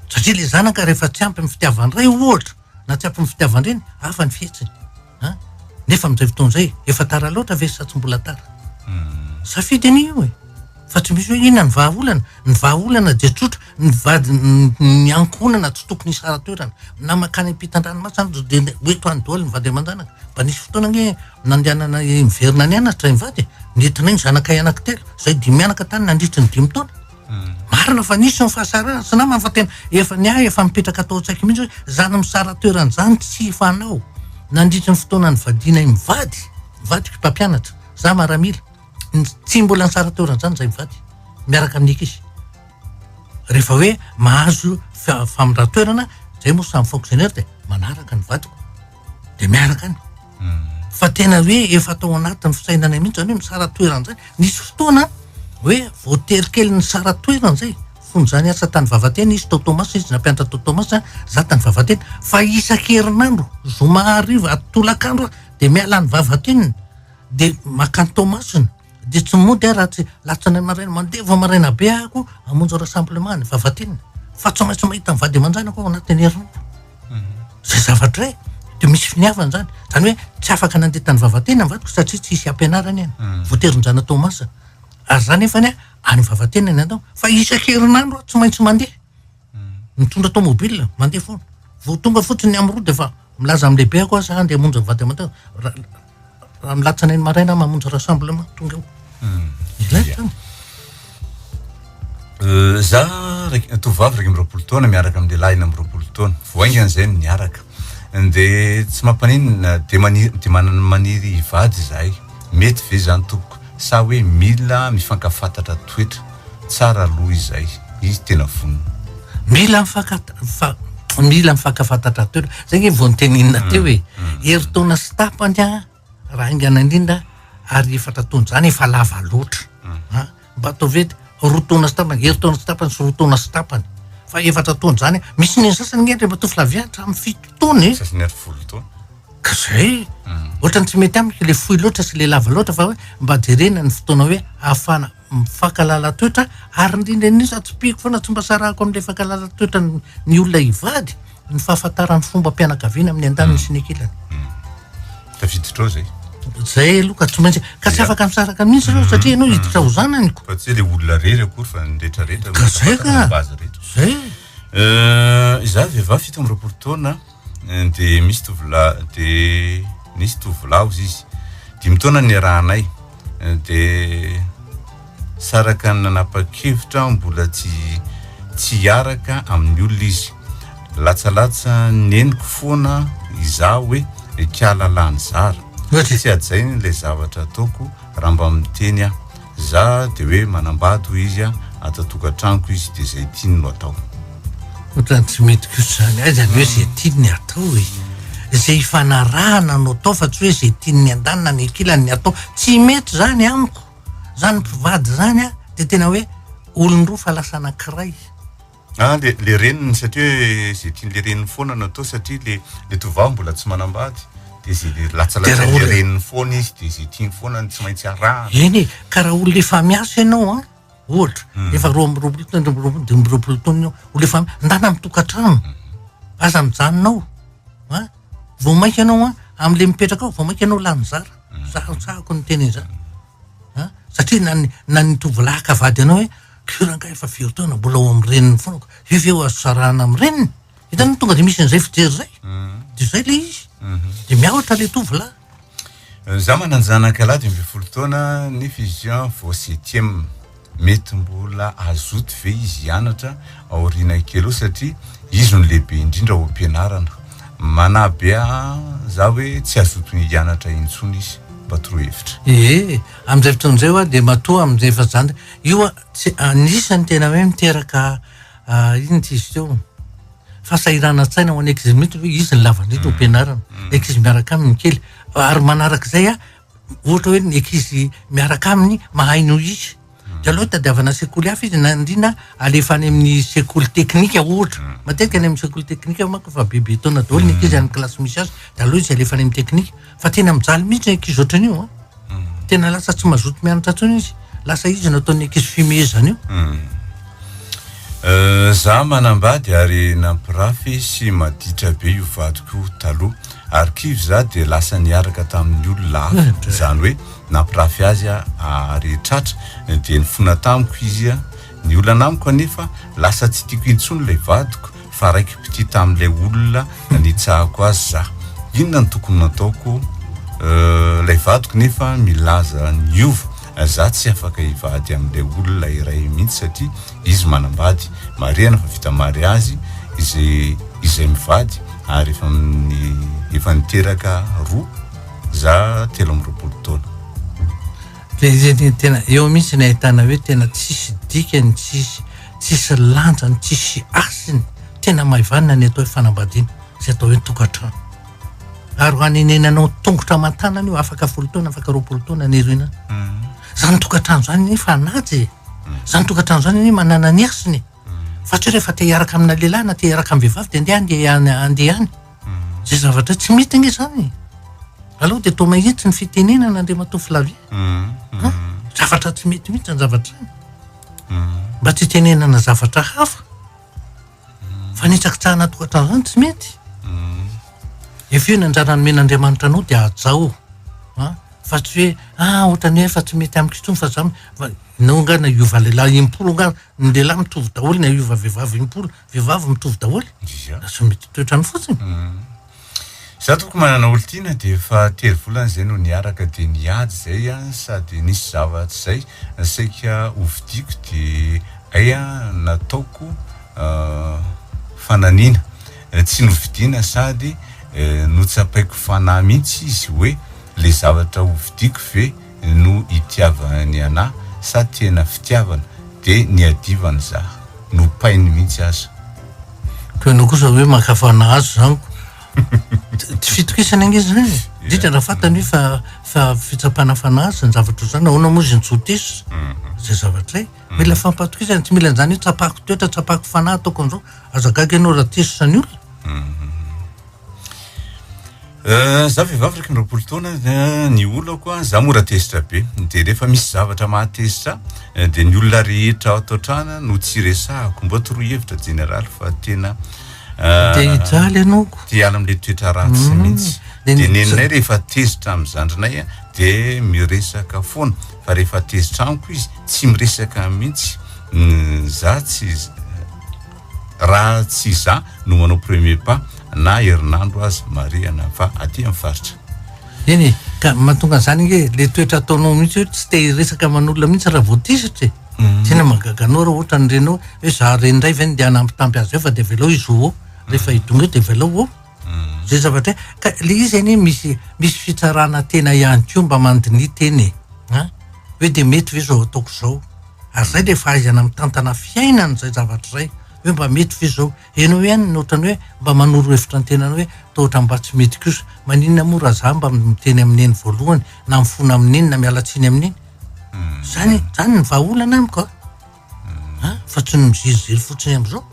Satria ilay zanaka rehefa tsy ampy amin'ny fitiavan-dray ohatra na tsy ampy amin'ny fitiavan-dreny, hafa ny fihetsiny. An! Nefa amin'izay fotoana izay, efa tara loatra ve sa tsy mbola tara? Safidy anie io e! Fa tsy misy hoe inona ny vahaolana. Ny vahaolana dia tsotra, ny vadin ny ankohonana tsy tokony hisara-toerana. Na mankany am-pitan-dranomasina aza dia ho eto any daholo ny vady aman-janaka. Mba nisy fotoana anie nandehanana niverina any Anatra ny vady e! Nentinay ny zanakay anankitelo, izahay dimy mianaka tany nandritry ny dimy taona. Marina fa nisy ny fahasarahana, sy namana fa tena efa ny ahy efa mipetraka tao an-tsaiko mihitsy hoe izany misara-toerana izany tsy fanao. Nandritry ny fotoana nivadianay mivady, ny vadiko mpampianatra, izaho maramila. tsy mbola nitsara teo oran'izany izay mivady miaraka amin'ny ankizy rehefa hoe mahazo famindran-toerana zay moa samy fonctionnaire dia manaraka ny vadiko de miaraka any hmm. fa tena hoe efa atao anatin'ny fisainana mihitsy zany hoe misara toerana zay nisy fotoana hoe voatery kely ny sara toerana zay fony zany asa tany vavatena izy tao tomas izy nampiantra tao tomas za tany vavatena fa isan-kerinandro zoma hariva atolakandro dia miala ny vavateniny dia makany Toamasina, dia tsy mody aho raha tsy latsanainy maraina, mandeha vao maraina be aho koa hamonjy rassemblement ny Vavatinina, fa tsy maintsy mahita ny vady aman-janako aho ao anatin'ny herinandro. Izay zavatra izay, dia misy finiavana izany. Izany hoe tsy afaka nandeha tany Vavatenina ny vadiko satria tsy hisy hampianarany eny, mm. voatery nijanona Toamasina. Ary izany nefany any Vavatenina ny atao, fa isan-kerinandro aho tsy maintsy mandeha. mitondra tomobile mandeha foana vao tonga fotsiny ny amroa dia fa milaza amin'ny lehibe ako za andeha monja vady aman raha milatsana eny maraina mamonja rassemblement tonga eo hmm. ilay tany euh, za tovovavy raika amby roapolo taona miaraka amin'ny lehilahy na amby roapolo taona voaingana izay ny miaraka de tsy mampaninona de maniry de manana maniry hivady izahay mety ve izany tompoko sa hoe mila mifankafantatra toetra tsara aloha izay izy tena vonona. Mila mifankata mila mifankafantatra toetra zay nge vao noteneninao teo e, herintaona sy tapany an. Raha haingana indrindra ary efatra taona izany efa lava loatra a mba ataovy hoe roa taona sy tapany herintaona sy tapany sy roa taona sy tapany fa efatra taona izany misy ny sasany nge rehefa tovolahy vy hatramin'ny fito taona e sasany ary folo taona ka zay ohatra ny tsy mety amiko le fohy loatra sy le lava loatra fa hoe mba jerena ny fotoana hoe ahafahana mifankalala toetra ary indrindra indrindra tsipihiko foana tsy mba sarahako amin'ilay fankalala toetra ny olona hivady ny fahafantarany fombam-pianakaviana amin'ny andaniny sy ny ankilany. Tafiditra ao izay. Izay aloha ka tsy maintsy ka tsy afaka misaraka mihitsy ireo satria ianao hiditra ho zanany ko. Fa tsy ilay olona rery akory fa ny rehetra rehetra. Ka izay ka. Izay. Izaho vehivavy fito amby roapolo taona. dia misy tovolahy dia nisy tovolahy ozy izy dimy taona niarahanay dia saraka ny nanapa-kevitra aho mbola tsy tsy hiaraka amin'ny olona izy latsalatsa neniko foana izaho hoe ikialalany zara tsy hajay n'ilay zavatra ataoko raha mba miteny aho Za de hoe manambady hoy izy a, ato an-tokantranoko izy de zay tiany no atao. Otrany tsy mety kosa zany, aiza ny hoe zay tiany ny atao e? Zay ifanarahana no atao fa tsy hoe zay tiany ny andanina ny ankilany ny atao, tsy mety zany amiko, zany mpivady zany a de tena hoe olon-droa fa lasa anankiray. Ah le le reniny satria hoe ze tian'le reniny foana no atao satria le le tovovavy mbola tsy manambady de ze le latsalatsain'le reniny foana izy de ze tiany foana no tsy maintsy arahana. Eny e, ka raha olona efa miasa ianao an, ohatra hmm. efa roa amby roapolo taona, roa amby dimy roapolo taona ianao, olona efa ndana amin'ny tokantrano, hmm. aza mijanona ao an, vao mainka ianao an, amin'le mipetraka ao vao mainka ianao lany zara, hmm. zaho tsahako ny teny izany, satria na ny na ny tovolahy ka vady anao hoe Ko rangah efa firy taona mbola ao amin'ny reniny foana ko ve ve ho azo sarahana amin'ny reniny? Hitanao no tonga dia misy an'izay fijery izay. Dia izay ilay izy. Dia miahotra ilay tovolahy. Izaho manan-janaka lahy dimy ambin'ny folo taona nefa izy io an vao septième. Mety mbola hazoto ve izy hianatra aoriana kely eo satria izy no lehibe indrindra ao am-pianarana. Manahy be ahy izaho hoe tsy hazoto hianatra intsony izy. Mba torohevitra. Ee, amin'izay fotoana izay ho'a dia matoa amin'izay efa zandriny. Io tsy anisany tena hoe miteraka inona ity izy teo fahasahiranantsaina ho an'ny ankizy mihitsy hoe izy ny lavandrindra ho pianarana mm. ny ankizy miaraka aminy kely ary manaraka izay a ohatra hoe ny ankizy miaraka aminy mahay no izy mm. de aloha tadiavana sekoly hafa izy nandrina alefa any amin'ny sekoly teknika ohatra mm. matetika any amin'ny sekoly teknika mako fa bebe taona daholo ny ankizy any kilasy misy azy de aloha izy alefa any amin'ny teknika Fa tena mijaly mihitsy ny ankizy ohatran'io a. Hmm. Tena lasa tsy mazoto mianatra intsony izy. Lasa izy no ataon'ny ankizy fimehezana io. Hmm. Euh, za manambady ary nampirafy sy maditra be io vadiko taloha ary kivy za dia lasa niaraka tamin'ny olona hafa eh, izany hoe nampirafy azy ary tratra dia nifona tamiko izy a ny olana amiko anefa lasa tsy tiako intsony ilay vadiko fa raiki-pitia tamin'ilay olona nitsahako azy za. Inona no tokony nataoko? Ilay vadiko nefa milaza niova. Za tsy afaka hivady amin'ilay olona iray mihitsy satria izy manambady. Marihana fa vita mariazy izy izay mivady ary efa efa niteraka roa za telo amby roapolo taona. Dia izay dia tena eo mihitsy ny ahitana hoe tena tsisy dikany, tsisy tsisy lanjany, tsisy hasiny. Tena maivanina ny atao hoe fanambadiana, izay atao hoe tokantrano. Ary ho anenenanao tongotra aman-tanana io, afaka folo taona, afaka roapolo taona ny irina. Mhm. Izany tokantrano izany anie fanaja e. Mhm. Izany tokantrano izany anie manana ny hasiny e. Mhm. Fa tsy hoe rehefa te hiaraka amina lehilahy na te hiaraka amin'ny vehivavy dia andeha any dia andeha any. Izay zavatra tsy mety ange izany e. Aleo dia atao mahitsy ny fitenenana Andriamatoa Flavie. Mm, mm. Zavatra tsy mety mihitsy ny zavatra izany. Mm. Mba tsy hitenenana zavatra hafa. Fa ny hitsakitsahana tohatra an'izany tsy mety. Efe ny anjara nomena Andriamanitra anao dia hajao. Fa tsy hoe, ah, ohatrany hoe efa tsy mety amiko intsony fa za, nao nga na hiova lehilahy impolo nga, ny lehilahy mitovy daholo na hiova vehivavy impolo, Vehivavy mitovy daholo. Ia. Lasa mety toetrany fotsiny. Za toko manana olon-tiana dia efa telo volana izay no niaraka dia niady izay an sady nisy zava tsy zay saika ho vidiako dia ay an nataoko fananiana tsy novidiana sady notsapaiko fanahy mihitsy izy hoe le zavatra ho vidiako ve no itiavany anah sa tena fitiavana de niadivany zah, nopainy mintsy aza. Koa ianao kosa hoe makafa anah azo zaniko tsy fitokisana ange zany e! indrindra raha fantany hoe fa fa fitsapana fanahy azy ny zavatra ohatr'izany nahoana moa izy no tsy ho teso izay zavatra zay? mila fampatokisana tsy mila an'izany hoe tsapako toetra tsapako fanahy ataoko an'izao aza gaga ianao raha teso zany olona Za vehivavy iraika amby roapolo taona dia ny olako an, za mora tezitra be de rehefa misy zavatra mahatezitra ahy de ny olona rehetra ato an-trano an no tsy iresahako, mbô toroy hevitra jeneraly fa tena Te hijaly ianao ko. Te hiala amin'ilay toetra ratsy mihitsy, de neninay rehefa tezitra amin'ny zandrinay an de miresaka foana, fa rehefa tezitra amiko izy tsy miresaka mihitsy, za tsy Raha tsy izaho no manao premier pas na herinandro aza marihana fa aty amin'ny faritra. Eny e, ka mahatonga an'izany ange le toetra ataonao mihitsy hoe tsy te hiresaka aman'olona mihitsy raha vao tisitra e. Tena mahagaga anao raha ohatra ny renao hoe za reny indray ve no ndeha hanambitamby azy eo fa de avelao hizoho eo, rehefa hidongy eo de avelao oh. Zay zavatra e, ka le izy anie misy misy fitsarana tena ihany koa mba mandinia tena e, an, hoe de mety ve zao ataoko zao, ary zay le fahaizana mitantana fiainana zay zavatra zay, hoe mba mety ve zao, enao ihany otrany hoe mba manoro hevitra ny tenanao hoe toa otrany mba tsy mety kosa, maninona moa raha za mba miteny amin neny voalohany na mifona amin neny na miala tsiny amin neny, zany zany ny vahaolana amiko a. An, fa tsy ny miziriziry fotsiny amzao.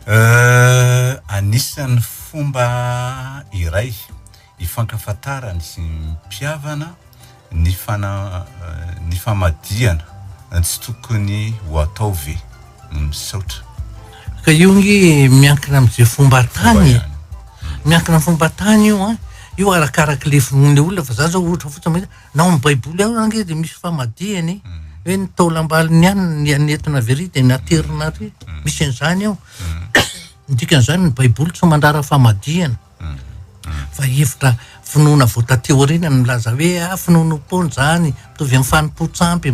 Euh, anisan'ny fomba iray ifankafantarany sy mpihavana ny fana, ny famadihana, tsy tokony ho atao ve? Misaotra. Ka io nge miankina amze fomba atany e, miankina am fomba atany io an, io arakaraky lefonle olona fa za zao ohatra fotsiny mahita, Na ao amin'ny Baiboly ao ary dia misy famadihana e. Hoe ny taolambalon'ny ihany ny an'etona avy ary dia ny aterina ary. Misy an'izany ao. Ny dikan'izany ny Baiboly tsy mandrara famadihana. Fa hevitra finoana vao taty aoriana no milaza hoe ah finoanoam-poana izany, mitovy amin'ny fanompoan-tsampy.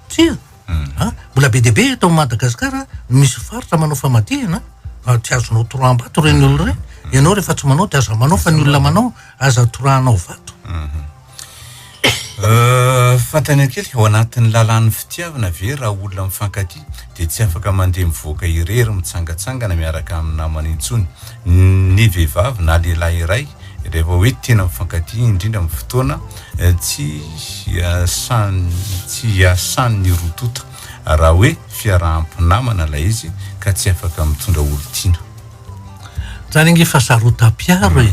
Tsia. An! Mbola be dia be eto Madagasikara no misy faritra manao famadihana fa tsy azonao toraham-bato ireny olona ireny. Ianao rehefa tsy manao dia aza manao fa ny olona manao aza torahanao vato. Fantany kely, ao anatin'ny lalàn'ny fitiavana ve raha olona mifankatia dia tsy afaka mandeha mivoaka irery mitsangatsangana miaraka amin'ny namany intsony ny vehivavy na lehilahy iray Rehefa hoe tena mifankatia, indrindra amin'ny fotoana tsy iasantsy iasan'ny roa tonta, raha hoe fiaraham-pinamana ilay izy ka tsy afaka mitondra olon-tiana. Zany ange fasarotam-piaro e!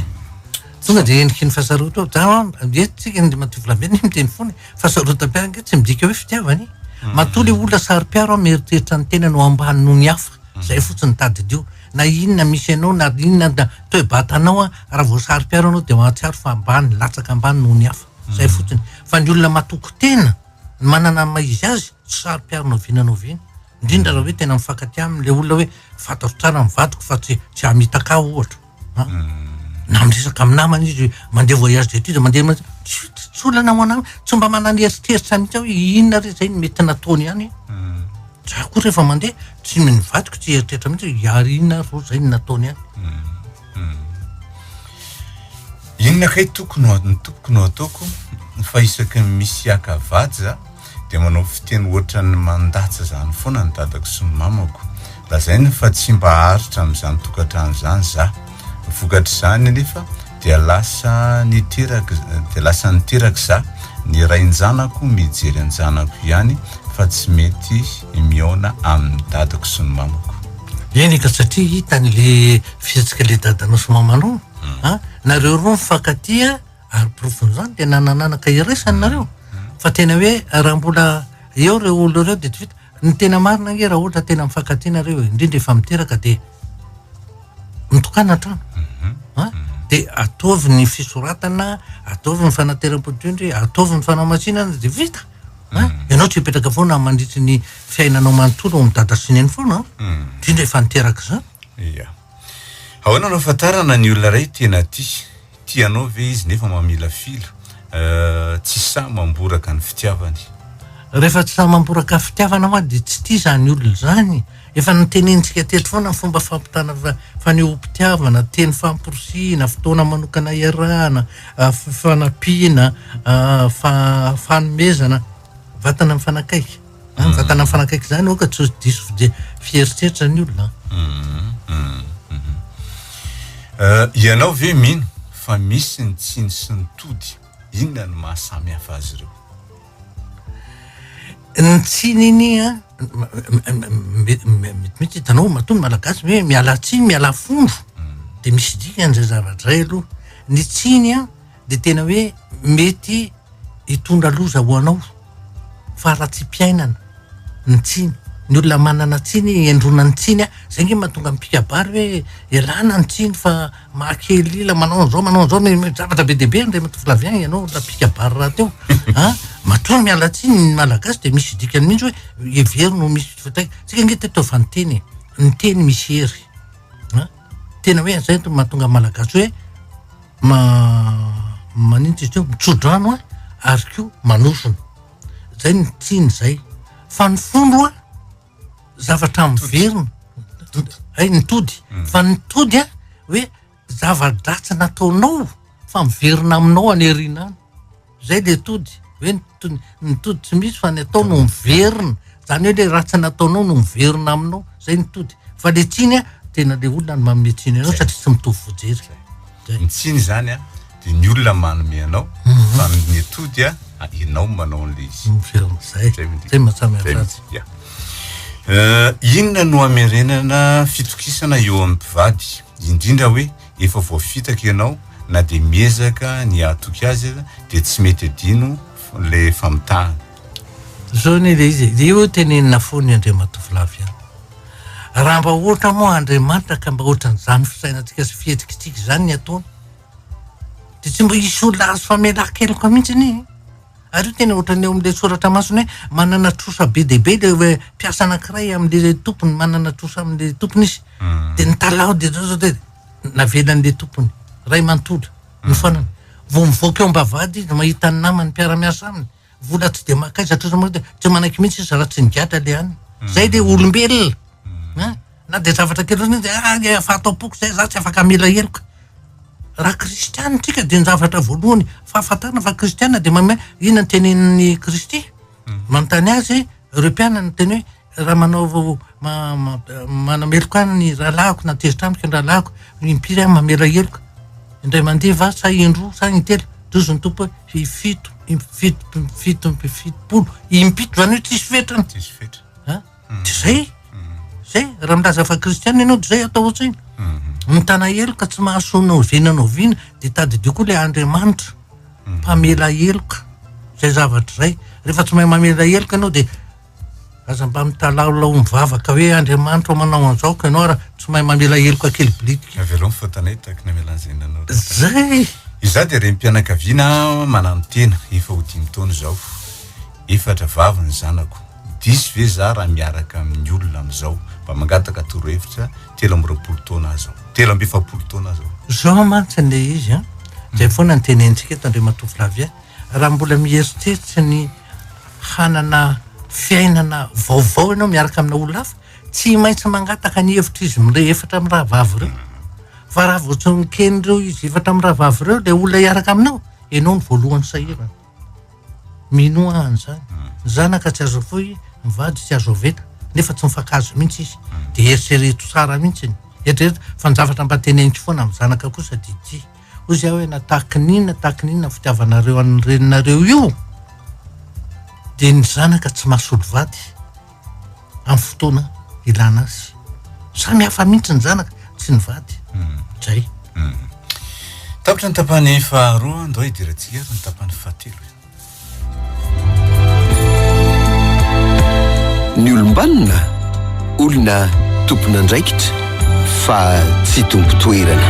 Tonga dia endriky ny fasarotam oh, za ange tsika ny matoa volamena miteny foana e! Fasarotam-piaro ange tsy midika hoe fitiavana e! Matoa le olona saro-piaro an mieritreritra ny tenany ho ambany noho ny hafa, zay fotsiny ny tadidio. Na inona misy anao na inona na toe-batanao an, raha voasaro-piaro anao dia mahatsiaro fa ambany, latsaka ambany noho ny hafa. Izay fotsiny. Fa ny olona matoky tena, ny manana ny maha izy azy, tsy saro-piaro na oviana na oviana. Indrindra raha hoe tena mifankatia aminy ilay olona hoe fantatro tsara ny vadiko fa tsy tsy hamitaka ahy ohatra an. Na miresaka amin'ny namany izy mandeha voyage d'études mandeha ma- tsy tsy tsy olana ho an'aminy. Tsy mba manana eritreritra mihitsy aho hoe inona re izay no mety nataony ihany. Za koa rehefa mandeha tsy mino vadiko tsy eritreritra mihitsy hoe hiary inona ary ro zay no nataony ahy. Inona kay toko no ny tompoko no ataoko fa isaky ny misy hiaka vady za dia manao fiteny ohatran'ny mandatsa izany foana ny dadako sy ny mamako. Lazainy fa tsy mba haharitra amin'izany tokantrano izany za. Vokatr'izany anefa. Dia lasa niteraka dia lasa niteraka za, ny rain-janako mijery an-janako ihany fa tsy mety mihaona amin'ny dadako sy ny mamako. Eny ka satria hitany le fihetsika le dadanao sy mamanao a! nareo roa mifankatia ary porofon'izany dia nanan'anaka iraisany nareo fa tena hoe raha mbola eo ireo olona ireo dia tsy vita, ny tena marina ange raha ohatra tena mifankatia nareo e, indrindra efa miteraka dia. mitokana hatrany. An? Dia ataovy ny fisoratana, ataovy ny fanateram-poditry, ataovy ny fanamasinana, dia vita. An? Ianao tsy hipetraka foana mandritry ny fiainanao manontolo ao amin'ny dada sy neny foana. An? Indrindra efa niteraka izany. Ia. Ahoana no ahafantarana ny olona iray tena tia? Tia anao ve izy nefa mamilafila? Tsy sahy mamboraka ny fitiavany. Rehefa tsy sahy mamboraka fitiavana hoa dia tsy tia izany olona izany. Efa notenenintsika teto foana ny fomba fampitana fanehoam-pitiavana, teny famporisihina, fotoana manokana iarahana, fifanampiana, fanomezana, vatana mifanakaiky. Ah, mm. Vatana mifanakaiky izany oka tsy diso fiheritreritra ny olona. Mm, mm, eh, ianao ve mino fa misy ny tsiny sy ny tody? Inona no mahasamy hafa azy ireo? Ny tsiny iny a metimety hitanao matoa ny malagasy hoe miala tsiny miala fondro dia misy dikany izay zavatra iray aloha. Ny tsiny a dia tena hoe mety hitondra loza ho anao faharatsiam-piainana ny tsiny ny olona manana tsiny endrona ny tsiny a zay nge mahatonga mipikabary hoe elana ny tsiny fa mahakelila manao an'izao manao an'izao ny zavatra be dia be ndray matofilavien ianao olona pikabary rahateo a matoa miala tsiny ny malagasy dia misy dikany mihitsy hoe hevero no misy fataika tsika nge teto fanteny e ny teny misy hery a tena hoe zay mahatonga malagasy hoe Ma maninona izy teo? Mitsodrano a, ary koa manofona. Zay ny tiany zay. Fa ny fo loha zavatra miverina. Hay ny tody. Hmm. Fa ny tody a, hoe zava-dratsy nataonao fa miverina aminao any aoriana any. Zay dia tody, hoe ny to- ny tody tsy misy fa ny atao no miverina. Zany hoe le raha tsy nataonao no miverina aminao, zay ny tody. Fa le tsiny a, tena le olona no manome tsiny anao satria tsy mitovy vojery. Zay. Ny tsiny izany a, dia ny olona manome anao, fa ny tody a, a- ianao no manao an'ilay izy. Miverina. Zay. Zay midika. Zay mahatsamy Zay azy azy. midika. Eh, Inona no hamerenana fitokisana eo amin'ny mpivady, indrindra hoe Efa voafitaka ianao na dia miezaka ny hahatoky azy aza dia tsy mety adino ilay famitahana. Zao anie ilay izy e, dia eo tenenina foana i Andriamatoa Flavien. Raha mba ohatra moa Andriamanitra ka mba ohatran'izany fisainantsika sy fihetsikitsika izany ny ataony dia tsy mba hisy olona azo famelan-keloka mihitsy anie e. Ary io tena ohatran'ny ao amin'ilay soratra masina hoe manana trosa be dia be ilay hoe mpiasa anankiray amin'ilay tompony, manana trosa amin'ilay tompony izy. Hmm. Dia nitalaho dia zao zao dia navelan'ilay tompony. Ray manontolo, hmm. nifanana. Vao mivoaka eo am-bavahady izy mahita ny namany mpiara-miasa aminy. Vola tsy dia makaiza hatraiza moa dia tsy manaiky mihitsy izy raha tsy nigadra ilay aniny. Hmm. Zay ilay olombelona. Na dia zavatra kely indrindra izay, ah, dia efa ato am-poko izay, izaho tsy afaka hamela heloka. Raha kristiana isika dia ny zavatra voalohany fahafantarana fa kristiana dia manome, inona ny tenin'i Kristy? Manontany azy ireo mpianany teny hoe, raha manao, ma- ma- manameloka ahy ny rahalahiko na tezitra amiko ny rahalahiko, impiry aho mamela heloka? Indray mandeha va sa indroa sa intelo? Tohizo ny Tompo hoe, hifito, im- fito, fito, fitopolo, impito, izany hoe tsisy fetrany. Tsisy fetrany. An? Dia izay, izay, raha milaza fa kristiana ianao dia izay atao hoatr'izay. Mhm. Mitana heloka tsy mahasoa na oviana na oviana dia tadidio koa ilay Andriamanitra mhm. mpamela heloka. Izay zavatra izay. Rehefa tsy mahay mamela heloka ianao dia aza mba mitalaolao mivavaka hoe Andriamanitra manao an'izao ka ianao raha tsy mahay mamela heloka kely bilitika. Avelao ny faotanay taky ny amelana izay nanao. Izay. Izaho dia reny mpianakaviana manano tena efa ho dimy taona izao. Efatra vavy ny zanako, diso ve za raha miaraka amin'ny olona amin'izao, mba mangataka torohevitra, telo amby roapolo taona aza aho, telo amby efapolo taona aza aho. Zao mantsy ilay izy an! Zay foana no tenenintsika eto Andriamatoa Flavien, raha mbola mieritreritra ny hanana fiainana vaovao ianao miaraka amina olona hafa, tsy maintsy mangataka ny hevitr'izy mirey efatra mirahavavy ireo, fa raha vao tsy noken'ireo izy efatra mirahavavy ireo ilay olona hiaraka aminao, ianao no voalohany sahirana. Minoa aho an'izany. Ny zanaka tsy azo fohy, ny vady tsy azo oveta, nefa tsy mifankahazo mihitsy izy. Dia eritrereto tsara mihitsy ny. Eritrereto fa ny zavatra mba teneniko foana amin'ny zanaka kosa dia ity. Hoy izy aho hoe na tahaky ny inona tahaky ny inona ny fitiavanareo an'ny reninareo io dia ny zanaka tsy mahasolo vady. amin'ny fotoana ilana azy. Samy hafa mihitsy ny zanaka sy ny vady. Hmm. Zay. Hmm. Tapitra ny tapany faharoa, ndao hidirantsika ary ny tapany fahatelo. Ny olombanona, olona tompon'andraikitra fa tsy tompo-toerana.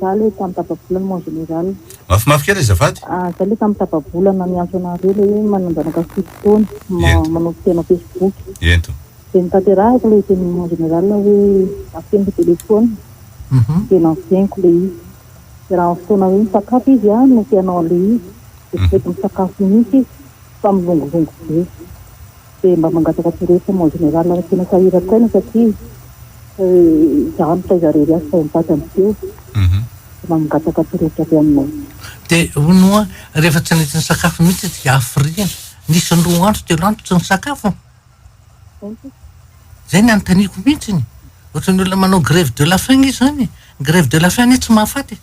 Za le tam tapabolana mon general. Mafimafy kely azafady. Ah za le tam tapabolana miantso anareo le hoe mananjanaka fito taona Ento. manompo tena facebook. Ento. De notanterahiko le teny mon general hoe afeniko telephone de nanfeniko le izy. De raha am fotoana hoe misakafo izy ah no te hanao anle izy de tsy mety misakafo mihitsy izy fa milongilongy be. Dia mba mangataka torohevitra mon général ary tena sahirako aina satria izaho no taiza irery azy fa mitady an'i Theo dia mba mangataka torohevitra avy aminao. Dia hono hoa rehefa tsy nety nisakafo mihitsy izy dia hafiriana. Nisy ny roa andro telo andro tsy nisakafo. Izay ny anontaniako mihitsy. Ohatran'ny olona manao grève de la faim izy izany. Ny grève de la faim anie tsy mahafaty e.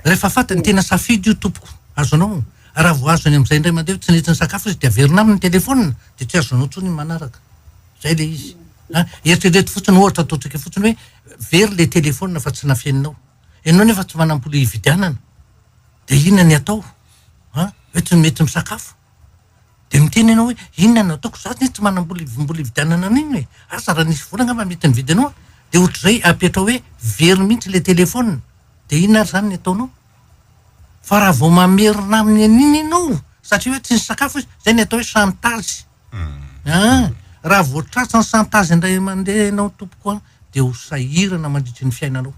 Rehefa faty ny tena safidy io tompoko, azonao, raha vao azony amin'izay indray mandeha io tsinentsiny sakafo izy dia averina aminy ny telefonina dia tsy azonao intsony ny manaraka. Izay ilay izy. A, eritrereto fotsiny ohatra ataontsika fotsiny hoe very ilay telefonina fa tsy nafeninao. Ianao nefa tsy manam-bola hividianana. Dia inona ny atao? A, hoe tsy mety misakafo? Dia miteny ianao hoe inona no ataoko, za tsy manam-bola hividianana an'inona e, asa raha nisy vola angamba mety nividy anao aho, dia ohatr'izay apetrao hoe very mihitsy ilay telefaonina, dia inona ary izany ny ataonao? Fa raha vao mamerina aminy an'iny ianao satria hoe tsy nisy sakafo izy, izay no atao hoe chantage an! Raha vao tratran'ny chantage indray mandeha ianao tompoko an, dia ho sahirana mandritry ny fiainanao.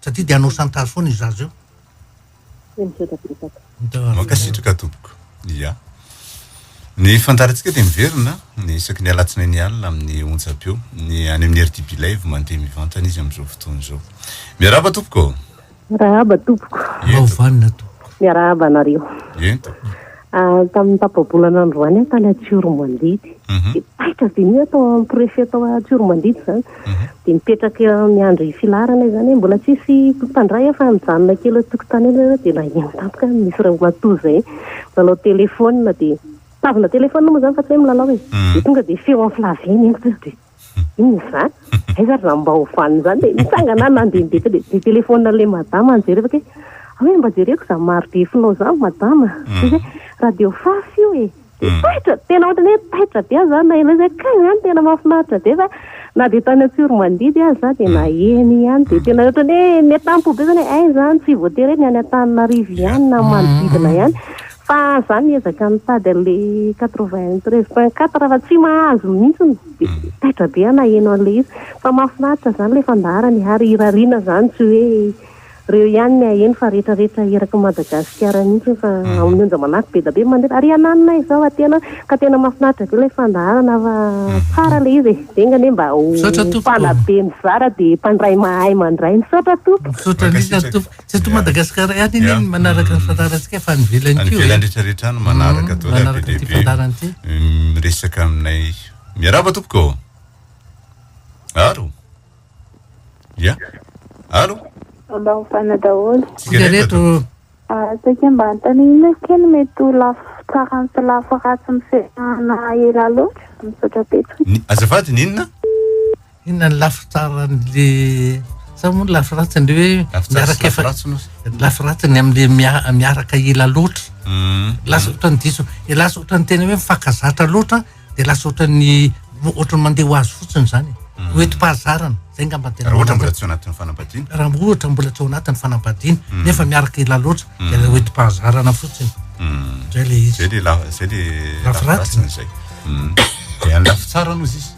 Satria dia hanao chantage foana io zaza io. Dia misaotra betsaka. Mankasitraka tompoko. Ia. Ny fandaharantsika dia miverina ny isaky ny alatsinainy alina amin'ny onjam-peo. Ny any amin'ny RTB Live mandeha mivantana izy amin'izao fotoana izao. Miarahaba tompoko. Miarahaba tompoko. Ento. Miarahaba anareo. Ento. Ah, tamin'ny tapa-bolana androany aho tany Antsiromandidy. Mhm. Dia taitra be ny atao amin'ny préfet tao Antsiromandidy izany. Mhm. Dia mipetraka miandry filaharana izany hoe mbola tsisy mpandray aho fa mijanona kely eo an-tokotany eo ianareo dia naheno tampoka aho misy ramatoa izay milalao telefaonina dia tazana telefaonina moa izany fa tsy hoe milalao e. Mhm. Dia tonga dia feo amin'ny flavier ny entiko. Inona izany? Aiza ary izany mba ho vanona izany? Dia nitsangana aho nandeha ny be dia nitelefaonina an'ilay madama aho nijerevako hoe aho hoe mba jereko izany marodefinao izany madama. Dia izy hoe radio fafy io e. Dia taitra, tena ohatran'ny hoe taitra be aho izany naheno an'izay hoe kay izany tena mahafinaritra be fa na dia tany Antsiromandidy aza za dia naheno ihany dia tena ohatran'ny hoe miatampo be izany hoe hay izany tsy voatery hoe ny any Antananarivo ihany na manodidina ihany Fa za miezaka mitady an'le quatre-vingt treize point quatre fa tsy mahazo mihintsiny de taitra be aho naheno an'le izy fa mahafinaritra zany le fandaharany ary irariana zany tsy hoe reo ihany ny haheno fa rehetra rehetra eraky Madagasikara mihintsiny fa amin'ny onja manako be da be mandefa ary ananona izao a tena ka tena mahafinaritra be le fandaharana fa tsara le izy e enga anie mba ho mpanabe mizara de mpandray mahay mandray misaotra tompoko. Misaotra indrindra tompoko. Tsy eto Madagasikara ihany anie ny manaraka ny fandaharantsika fa any ivelany koa. Any ivelany rehetra rehetra any manaraka daholo ary be dia be. Manaraka ity fandaharana Miresaka aminay. Miarahaba tompoko. Alo. Ya. Alo. Ambavana daholo. Tsika reto. Saika mba antana ino kely mety ho lafo tsarany sy lafo ratsy mifehy na ela loatra. Misaotra betsaka. Azafady ny inona? Inona ny lafy tsaran'le sa moa ny lafy ratsiny hoe miaraka efa lafy ratsiny amin'le miaraka ela loatra mm. lasa ohatran'ny diso e lasa ohatran'ny tena hoe mifankazatra loatra de lasa ohatran'ny ohatran'ny mandeha ho azy fotsiny izany mm. ho enti-pahazarana zay ngamba tena raha ohatra mbola tsy ao anatin'ny fanambadiana raha ohatra mbola tsy ao anatin'ny fanambadiana mm. nefa miaraka ela loatra de la ho enti-pahazarana fotsiny zay le izy zay le lafy ratsiny zay de anlafy tsara aloha izy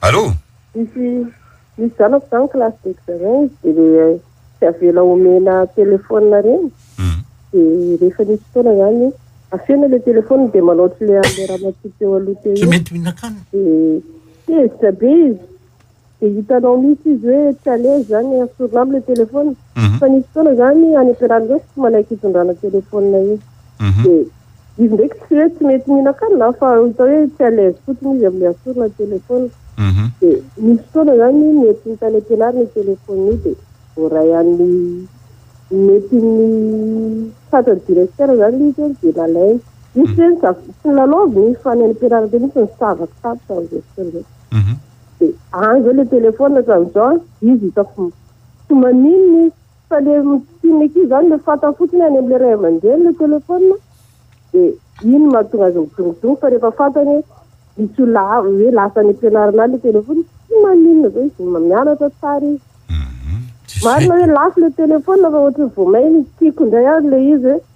Allô? Misy misy zanako zany classe de examen izy de le tsy avela omena téléphone reny de rehefa misy fotoana zany afena le téléphone de manao ohatry le anle ramatoa teo aloha teo io de tezitra be izy Dia hitanao mihitsy izy hoe tsy à l'aise zany esorina aminy le téléphone. Fa nisy fotoana zany any am-pianarana reo tsy manaiky hitondrana téléphone iny. Dia izy ndraiky tsy hoe tsy mety mihinan-kanina an, fa hita hoe tsy à l'aise fotsiny izy amle asorina téléphone. Dia nisy fotoana zany nentin'ny tany am-pianarana io téléphone io dia voaray any nentin'ny tratran'ny directeur zany izy an dia nalainy. Izy tsy hoe tsy nilalaoviny fa ny any am-pianarana teo mihitsy no savaky tampoka amzay fotoana zay. Dia any izay ilay telefaonina hatramin'izao an, dia izy hitako tsy maninona izy. Fa ilay misikin'ny ankizy izany ilay fantany fotsiny any amin'ilay ray aman-dreny ilay telefaonina, dia iny no mahatonga azy midongidongy. Fa rehefa fantany hoe misy olona hafa, hoe lasa any am-pianarana any ilay telefaonina, tsy maninona izao izy, mianatra tsara izy. Marina hoe lafo ilay telefaonina fa ohatran'ny vao may ny tiako indray ary ilay izy hoe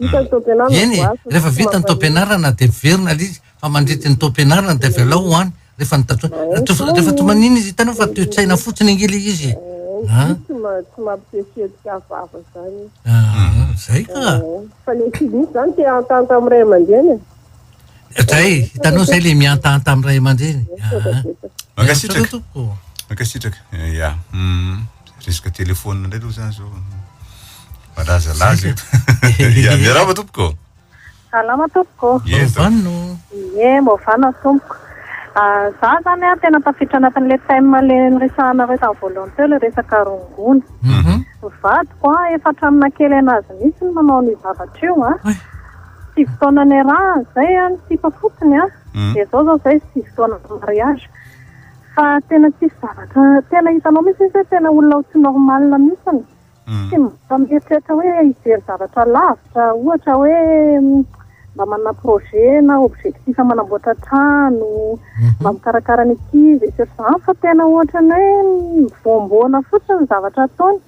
Eny e, rehefa vita ny taom-pianarana dia miverina ilay izy fa mandritry ny taom-pianarana dia avy alao ho any rehefa ny daty hoe rehefa toa maninona izy hitanao fa toe-tsaina fotsiny ange ilay izy e. Ah. Tsy ma- tsy mampiseho hetsika vava zany izy. Ah, zay ka. Ah, Fa le tsy misy zany te hahantahanta amin'ny ray aman-dreny e. Zay, hitanao zay le mihantahanta amin'ny ray aman-dreny. Ah. Misaotra betsaka. Mankasitraka. Misaotra tompoko. Mankasitraka. Eh, ya. Mm. resaka telefona indray aloha zany zao malazalaza eto ya miarahaba tompoko salama tompoko movanno ye movanno tompoko ah, za zany a tena tafiditra anatin'le thème le niresahanareo tamin'ny voalohany teo le resaka rongony mhm. vadiko a efa hatramin'ny nakely anazy mihitsy ny manao ny zavatra io a sivy taona ny raha zay a ny sipa fotsiny a mhm. de zao zao zay sivy taona mariage Fa tena tsisy zavatra tena hitanao mihitsy izy hoe tena olona ho tsy normal mihitsy ny. Tsy mba mieritreritra hoe hijery zavatra lavitra ohatra hoe mba manana projet na objectif manamboatra trano, mba mikarakara ny ankizy etsy sy eroa izany fa tena ohatran'ny hoe mivoamboana fotsiny ny zavatra ataony.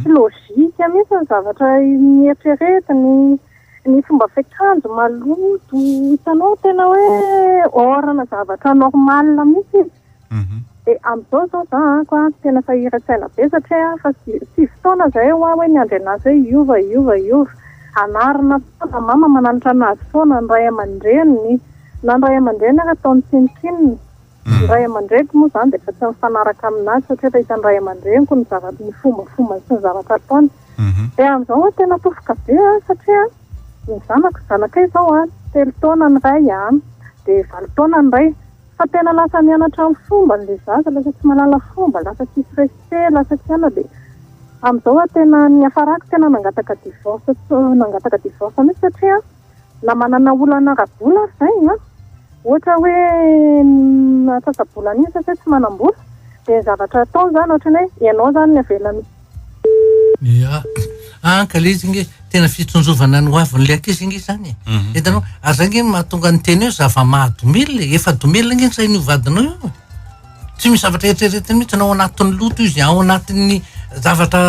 Tsy logique mihitsy ny zavatra eritreretiny. ny fomba fiakanjo maloto hitanao tena hoe orana zavatra normal mihitsy izy mhm. dia amin'izao izao za anko a tena sahiran-tsaina be satria fa sivy taona izay ho aho hoe miandry anazy hoe hiova hiova hiova anarina foana mama mananatra anazy foana ny ray aman-dreniny na ny ray aman-dreniny ary ataony tsinontsinona Ny ray aman-dreniko moa izany dia efa tsy mifanaraka amin'azy satria efa hitan'ny ray aman-dreniko ny zavatra, ny fombafombany sy ny zavatra ataony. Dia amin'izao aho tena tofoka be satria ny zanako, zanakay izao telo taona ny iray dia valo taona ny iray fa tena lasa mianatra ny fombany ilay zaza, lasa tsy mahalala fomba, lasa tsisy respect, lasa tsy anona dia amin'izao aho tena, niafarako tena nangataka divorce, nangataka divorce mihintsy satria. Na manana olana ara-bola aza izay an, ohatra hoe ny antsasa-bolana iny satria tsy manam-bola, dia ny zavatra ataony izany ohatran'ny hoe ianao izany no avela mi. Ia, an ka ilay izy ange tena fitsinjovana ny hoavin'ilay ankizy ange izany e! Hitanao, ary izay ange no mahatonga ny teny hoe zava-mahadomelina e! Efa domelina ange ny sain'io vadinao io e! Tsy misy zavatra eritreretiny mihitsy na ao anatin'ny loto izy, ao anatin'ny zavatra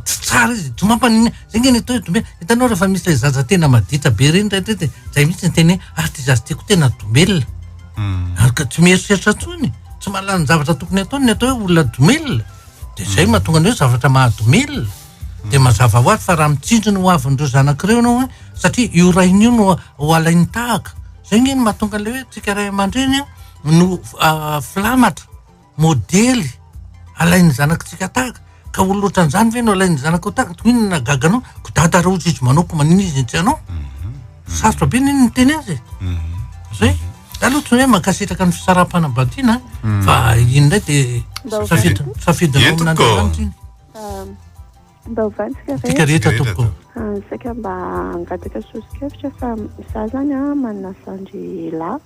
tsy tsara izy. Tsy mampanina. Zay nge ny atao dombia. Hitanao rehefa misy ilay zaza tena maditra be ireny rehetra zay mihitsy ny teny hoe ary ty zaza tiako tena domelina. Hmm. Ary ka tsy mieritreritra intsony. Tsy mahalala ny zavatra tokony ataony ny atao hoe olona domelina. De zay hmm. mahatonga ny hoe zavatra mahadomelina. De hmm. mazava ho azy fa raha mitsinjo ny hoavin'ireo zanak'ireo ianao an, satria io rainy io no ho alainy tahaka. Zay nge ny mahatonga an'ilay hoe tsika ray aman-dreny an, no filamatra, modely alain'ny zanakitsika tahaka ka olona ohatran'izany ve no alain'ny zanakao tahaka toy inona gaga anao ko dada raha ozy izy manao ko manina izy tsy anao mhm. sarotra be ny iny miteny azy e. mhm. zay za aloha toy hoe mankasitraka ny fisaraham-panambadiana mhm. fa iny indray dia safidinao amin'andriamanitra iny ehm, Mba ovantsika re. Bika rehetra tompoko. Saika mba hangataka soso-kevitra fa za zany a manana zandry lahy.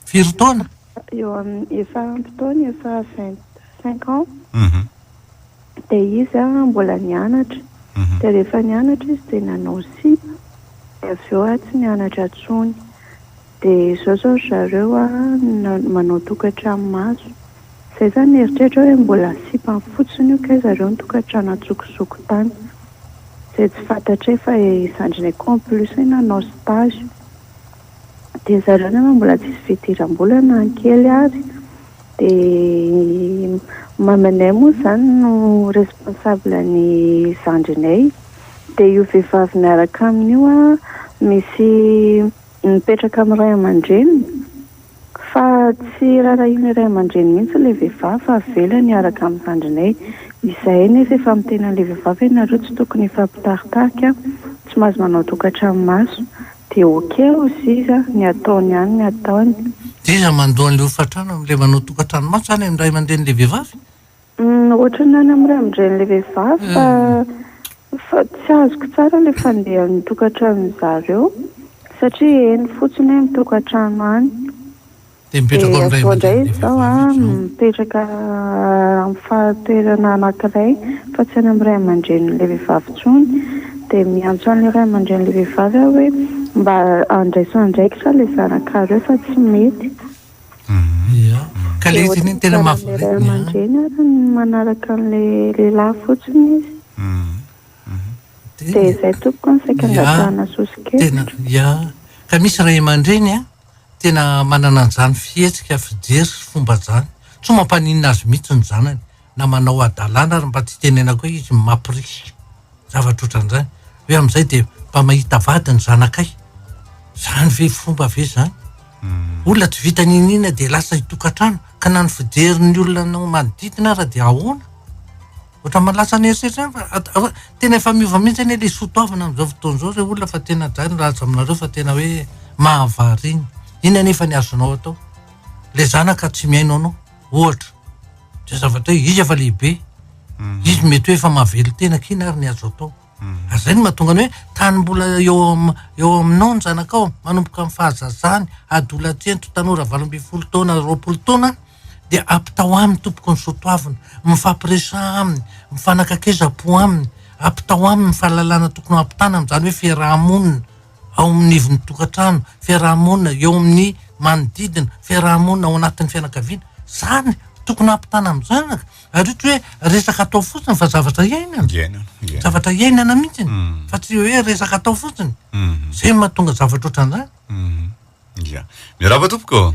Firy taona? Eo amin'ny efa ampy taona efa vingt cinq ans. Dia izy a mbola nianatra. Dia rehefa nianatra izy dia nanao sipa. Dia avy eo a tsy nianatra intsony. Dia izao izao ry zareo an, manao tokantrano maso. Izay izany ny eritreritrao hoe mbola sipany fotsiny io kay zareo ny tokantrano antsokosoko tany. Izay tsy fantatray fa i zandrinay koa en plus nanao stage. Dia zareo nefa mbola tsisy fidiram-bola na ny kely ary. Dia mamanay moa izany no responsable ny zandrinay. Dia io vehivavy miaraka aminy io an, misy. mipetraka amin'ny ray aman-dreniny fa tsy raharahian'ny ray aman-dreny mihitsy ilay vehivavy fa avelany hiaraka amin'ny zandrinay. Izahay nefa efa miteny an'ilay vehivavy hoe nareo tsy tokony hifampitaritarika, tsy mahazo manao tokantranomaso. Dia ok hozy izy, ny ataony ihany ny ataony. Dia iza mandoa an'ilay hofantrano amin'ilay manao tokantranomaso izany amin'ny ray aman-drenin'ilay vehivavy? Ohatran'ny any amin'ny ray amin-dren'ilay vehivavy fa fa tsy azoko tsara ilay fandehan'ny tokantranony zareo satria eny fotsiny hoe mitokantrano any. Dia mipetraka ao amin'ny ray aman-dren'ilay vehivavy izy ao. Dia avy eo indray izao aho mipetraka amin'ny fahatoerana anankiray fa tsy any amin'ny ray aman-dren'ilay vehivavy intsony. Dia miantso an'ilay ray aman-dren'ilay vehivavy aho hoe mba andraiso andraikitra ilay zanakareo fa tsy mety. Ka le izy iny tena mahavariana. Ray aman-dreny ary ny manaraka an'le lehilahy fotsiny izy. Dia izay tompoko no saika angatahana soso-kevitra. Ya, ka misy ray aman-dreny an, tena manana an'izany fihetsika, fijery sy fomba zany. Tsy mampaninona azy mihitsy ny zanany. na manao hadalana ary mba tsy tenenako hoe izy mapirisy zavatra ohatran'izany hoe amin'izay dia mba mahita vady ny zanakay zany ve fomba ve zany hmm. olona tsy vita ninina dia lasa hitokantrano ka na ny fijerin'ny olona nao manodidina ara dia ahoana ohatra malasa ny herisetra fa tena efa miova mihitsy anie le sotoavina amin'izao fotoana izao re olona fa tena dray ny raza aminareo fa tena hoe mahavariny iny anefa ny azonao atao le zanaka tsy mihaino anao ohatra zay zavatra hoe izy efa lehibe mhm. izy mety hoe efa mahavelo tena kina ary ny azo atao mhm. ary zay no mahatonga ny hoe tany mbola eo eo aminao ny zanakao manomboka amin'ny fahazazany adolatsento tanora valo ambin'ny folo taona roapolo taona dia apitao aminy tompoko ny sotoavina mifampiresa aminy mifanakakeza-po aminy apitao aminy ny fahalalana tokony ho ampitana amin'izany hoe fiaraha-monina ao amin'ny ivon'ny tokantrano, fiaraha-monina, eo amin'ny manodidina, fiaraha-monina ao anatin'ny fianakaviana. Izany, tokony hampitana amin'izany. Ary ohatra hoe resaka atao fotsiny fa zavatra iainana. Iainana, iainana. Zavatra iainana mihitsy. Fa tsy hoe resaka atao fotsiny. Izay no mahatonga zavatra ohatran'izany. Ia. Miarahaba tompoko.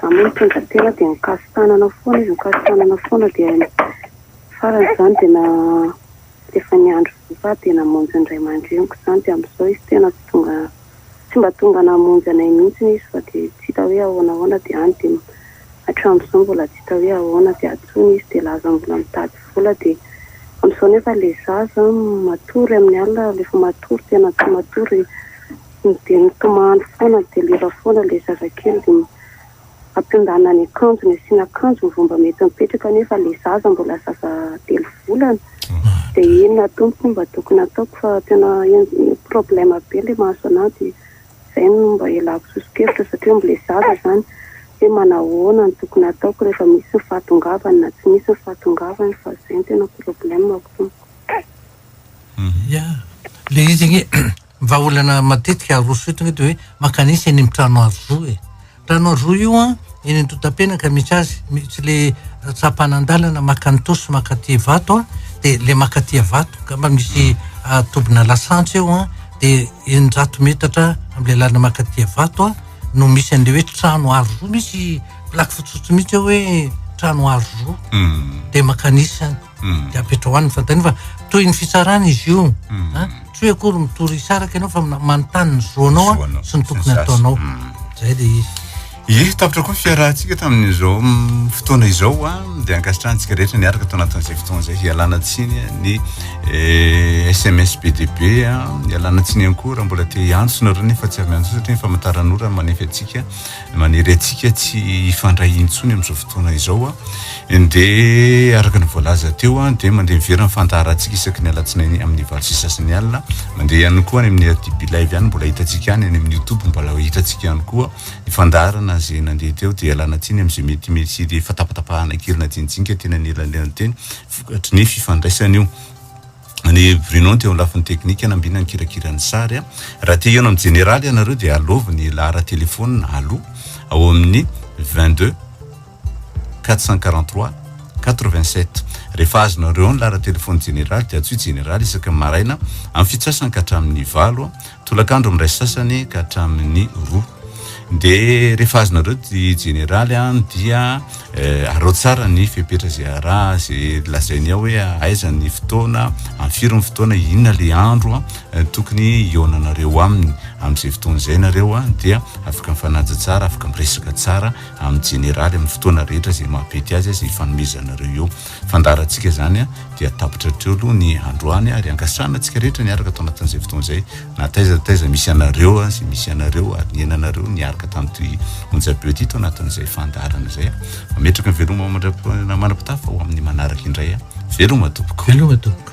Za moa mitondra tena dia mikasi-tanana foana izy, mikasi-tanana foana dia farany izany dia na efa ny andro voa aho dia namonjy ny ray aman-dreniko izany dia amin'izao izy tena tsy tonga, tsy mba tonga namonjy anay mihitsy izy fa dia tsy hita hoe ahoana ahoana dia any dia hatramin'izao mbola tsy hita hoe ahoana dia atsony izy dia lazany mbola mitady vola dia amin'izao nefa ilay zaza matory amin'ny alina rehefa matory tena tsy matory Ny dia nitomany foana ny delira foana ilay zazakely dia ampiondana ny akanjony asiana akanjo mivomba mety mipetraka nefa ilay zaza mbola zaza telo volana dia inona tompoko mba tokony ataoko fa tena problème be ilay mahazo anah dia izay no mba ialako sosokevitra satria mbola zaza izany hoe manahoana no tokony ataoko rehefa misy ny fahatongavany na tsy misy ny fahatongavany fa izay no tena problème ko tompoko. Ia, ilay izy anie. Vahaolana matetika aroso eto ve de hoe makanisa eny amin'ny trano arozoa e. Trano arozoa io an, eny Antotapenaka misy azy, tsy le tsapanandalana maka ny Tosy maka aty Ivato an, de le maka aty Ivato angamba misy tobina lasantsy eo an, de eninjato metatra amle lalana maka aty Ivato an no misy anle hoe trano arozoa, misy plaque fotsifotsy mitsy eo hoe trano arozoa, de makanisa any. de apetrao any ny fanontaniana fa toy ny fitsarana izy io a tsy hoe akory mitory hisaraka ianao fa manontany ny zo anao a sy ny tokony ataonao zay le izy ye tapitra koa ny fiarahantsika tamin'izao fotoana izao a de ankasitrahantsika rehetra niaraka tao anatin'izay fotoana zay hialana tsiny ny sms eh, bdb a hialana tsiny ihany koa raha mbola te hiantso nareo nefa tsy avy miantso satria ny famantaranora manefa antsika Manery antsika tsy hifandray intsony amin'izao fotoana izao dia araka ny voalaza teo dia mandeha miverina ny fandaharantsika isaky ny alatsinainy amin'ny valo sy sasany alina. Mandeha ihany koa any amin'ny RTB live ihany mbola hitantsika any, any amin'ny youtube mbola hitantsika ihany koa ny fandaharana izay nandeha teo dia ialana tsiny amin'izay mety misy le fatapatapahana kely najininjinika teny anelanelan'ny teny vokatry ny fifandraisana io. Ny Bruno teo amin'ny lafiny teknika nambina ny kirakira ny sary a. Raha te hihaona amin'ny jeneraly ianareo dia alaovy ny lahara telefonina aloha ao amin'ny 22 443 87. Rehefa azonareo ao ny lahara telefonina jeneraly dia antsoy jeneraly isaka maraina amin'ny fitsasany ka hatramin'ny valo Tolakandro amin'ny iray sasany ka hatramin'ny roa. Dia rehefa azonareo ty jeneraly an dia arao tsara ny fepetra izay araha izay lazainy ao hoe aiza ny fotoana, amin'ny firy ny fotoana, inona le andro tokony hihaonanareo aminy. Amin'izay fotoana izay nareo an dia afaka mifanaja tsara, afaka miresaka tsara amin'ny jeneraly amin'ny fotoana rehetra izay maha-pety azy, izay ifanomezanareo eo. Fandaharantsika izany dia tapitra hatreo aloha ny androany ary angasahana antsika rehetra ny hiaraka ato anatin'izay fotoana izay na taiza na taiza misy anareo sy misy anareo ary niainanareo niaraka tamin'ity onjam-peo ity tao anatin'izay fandaharana izay. Mametraka ny veloma mandra-manam-pitafy fa ho amin'ny manaraka indray. Veloma tompoko. Veloma tompoko.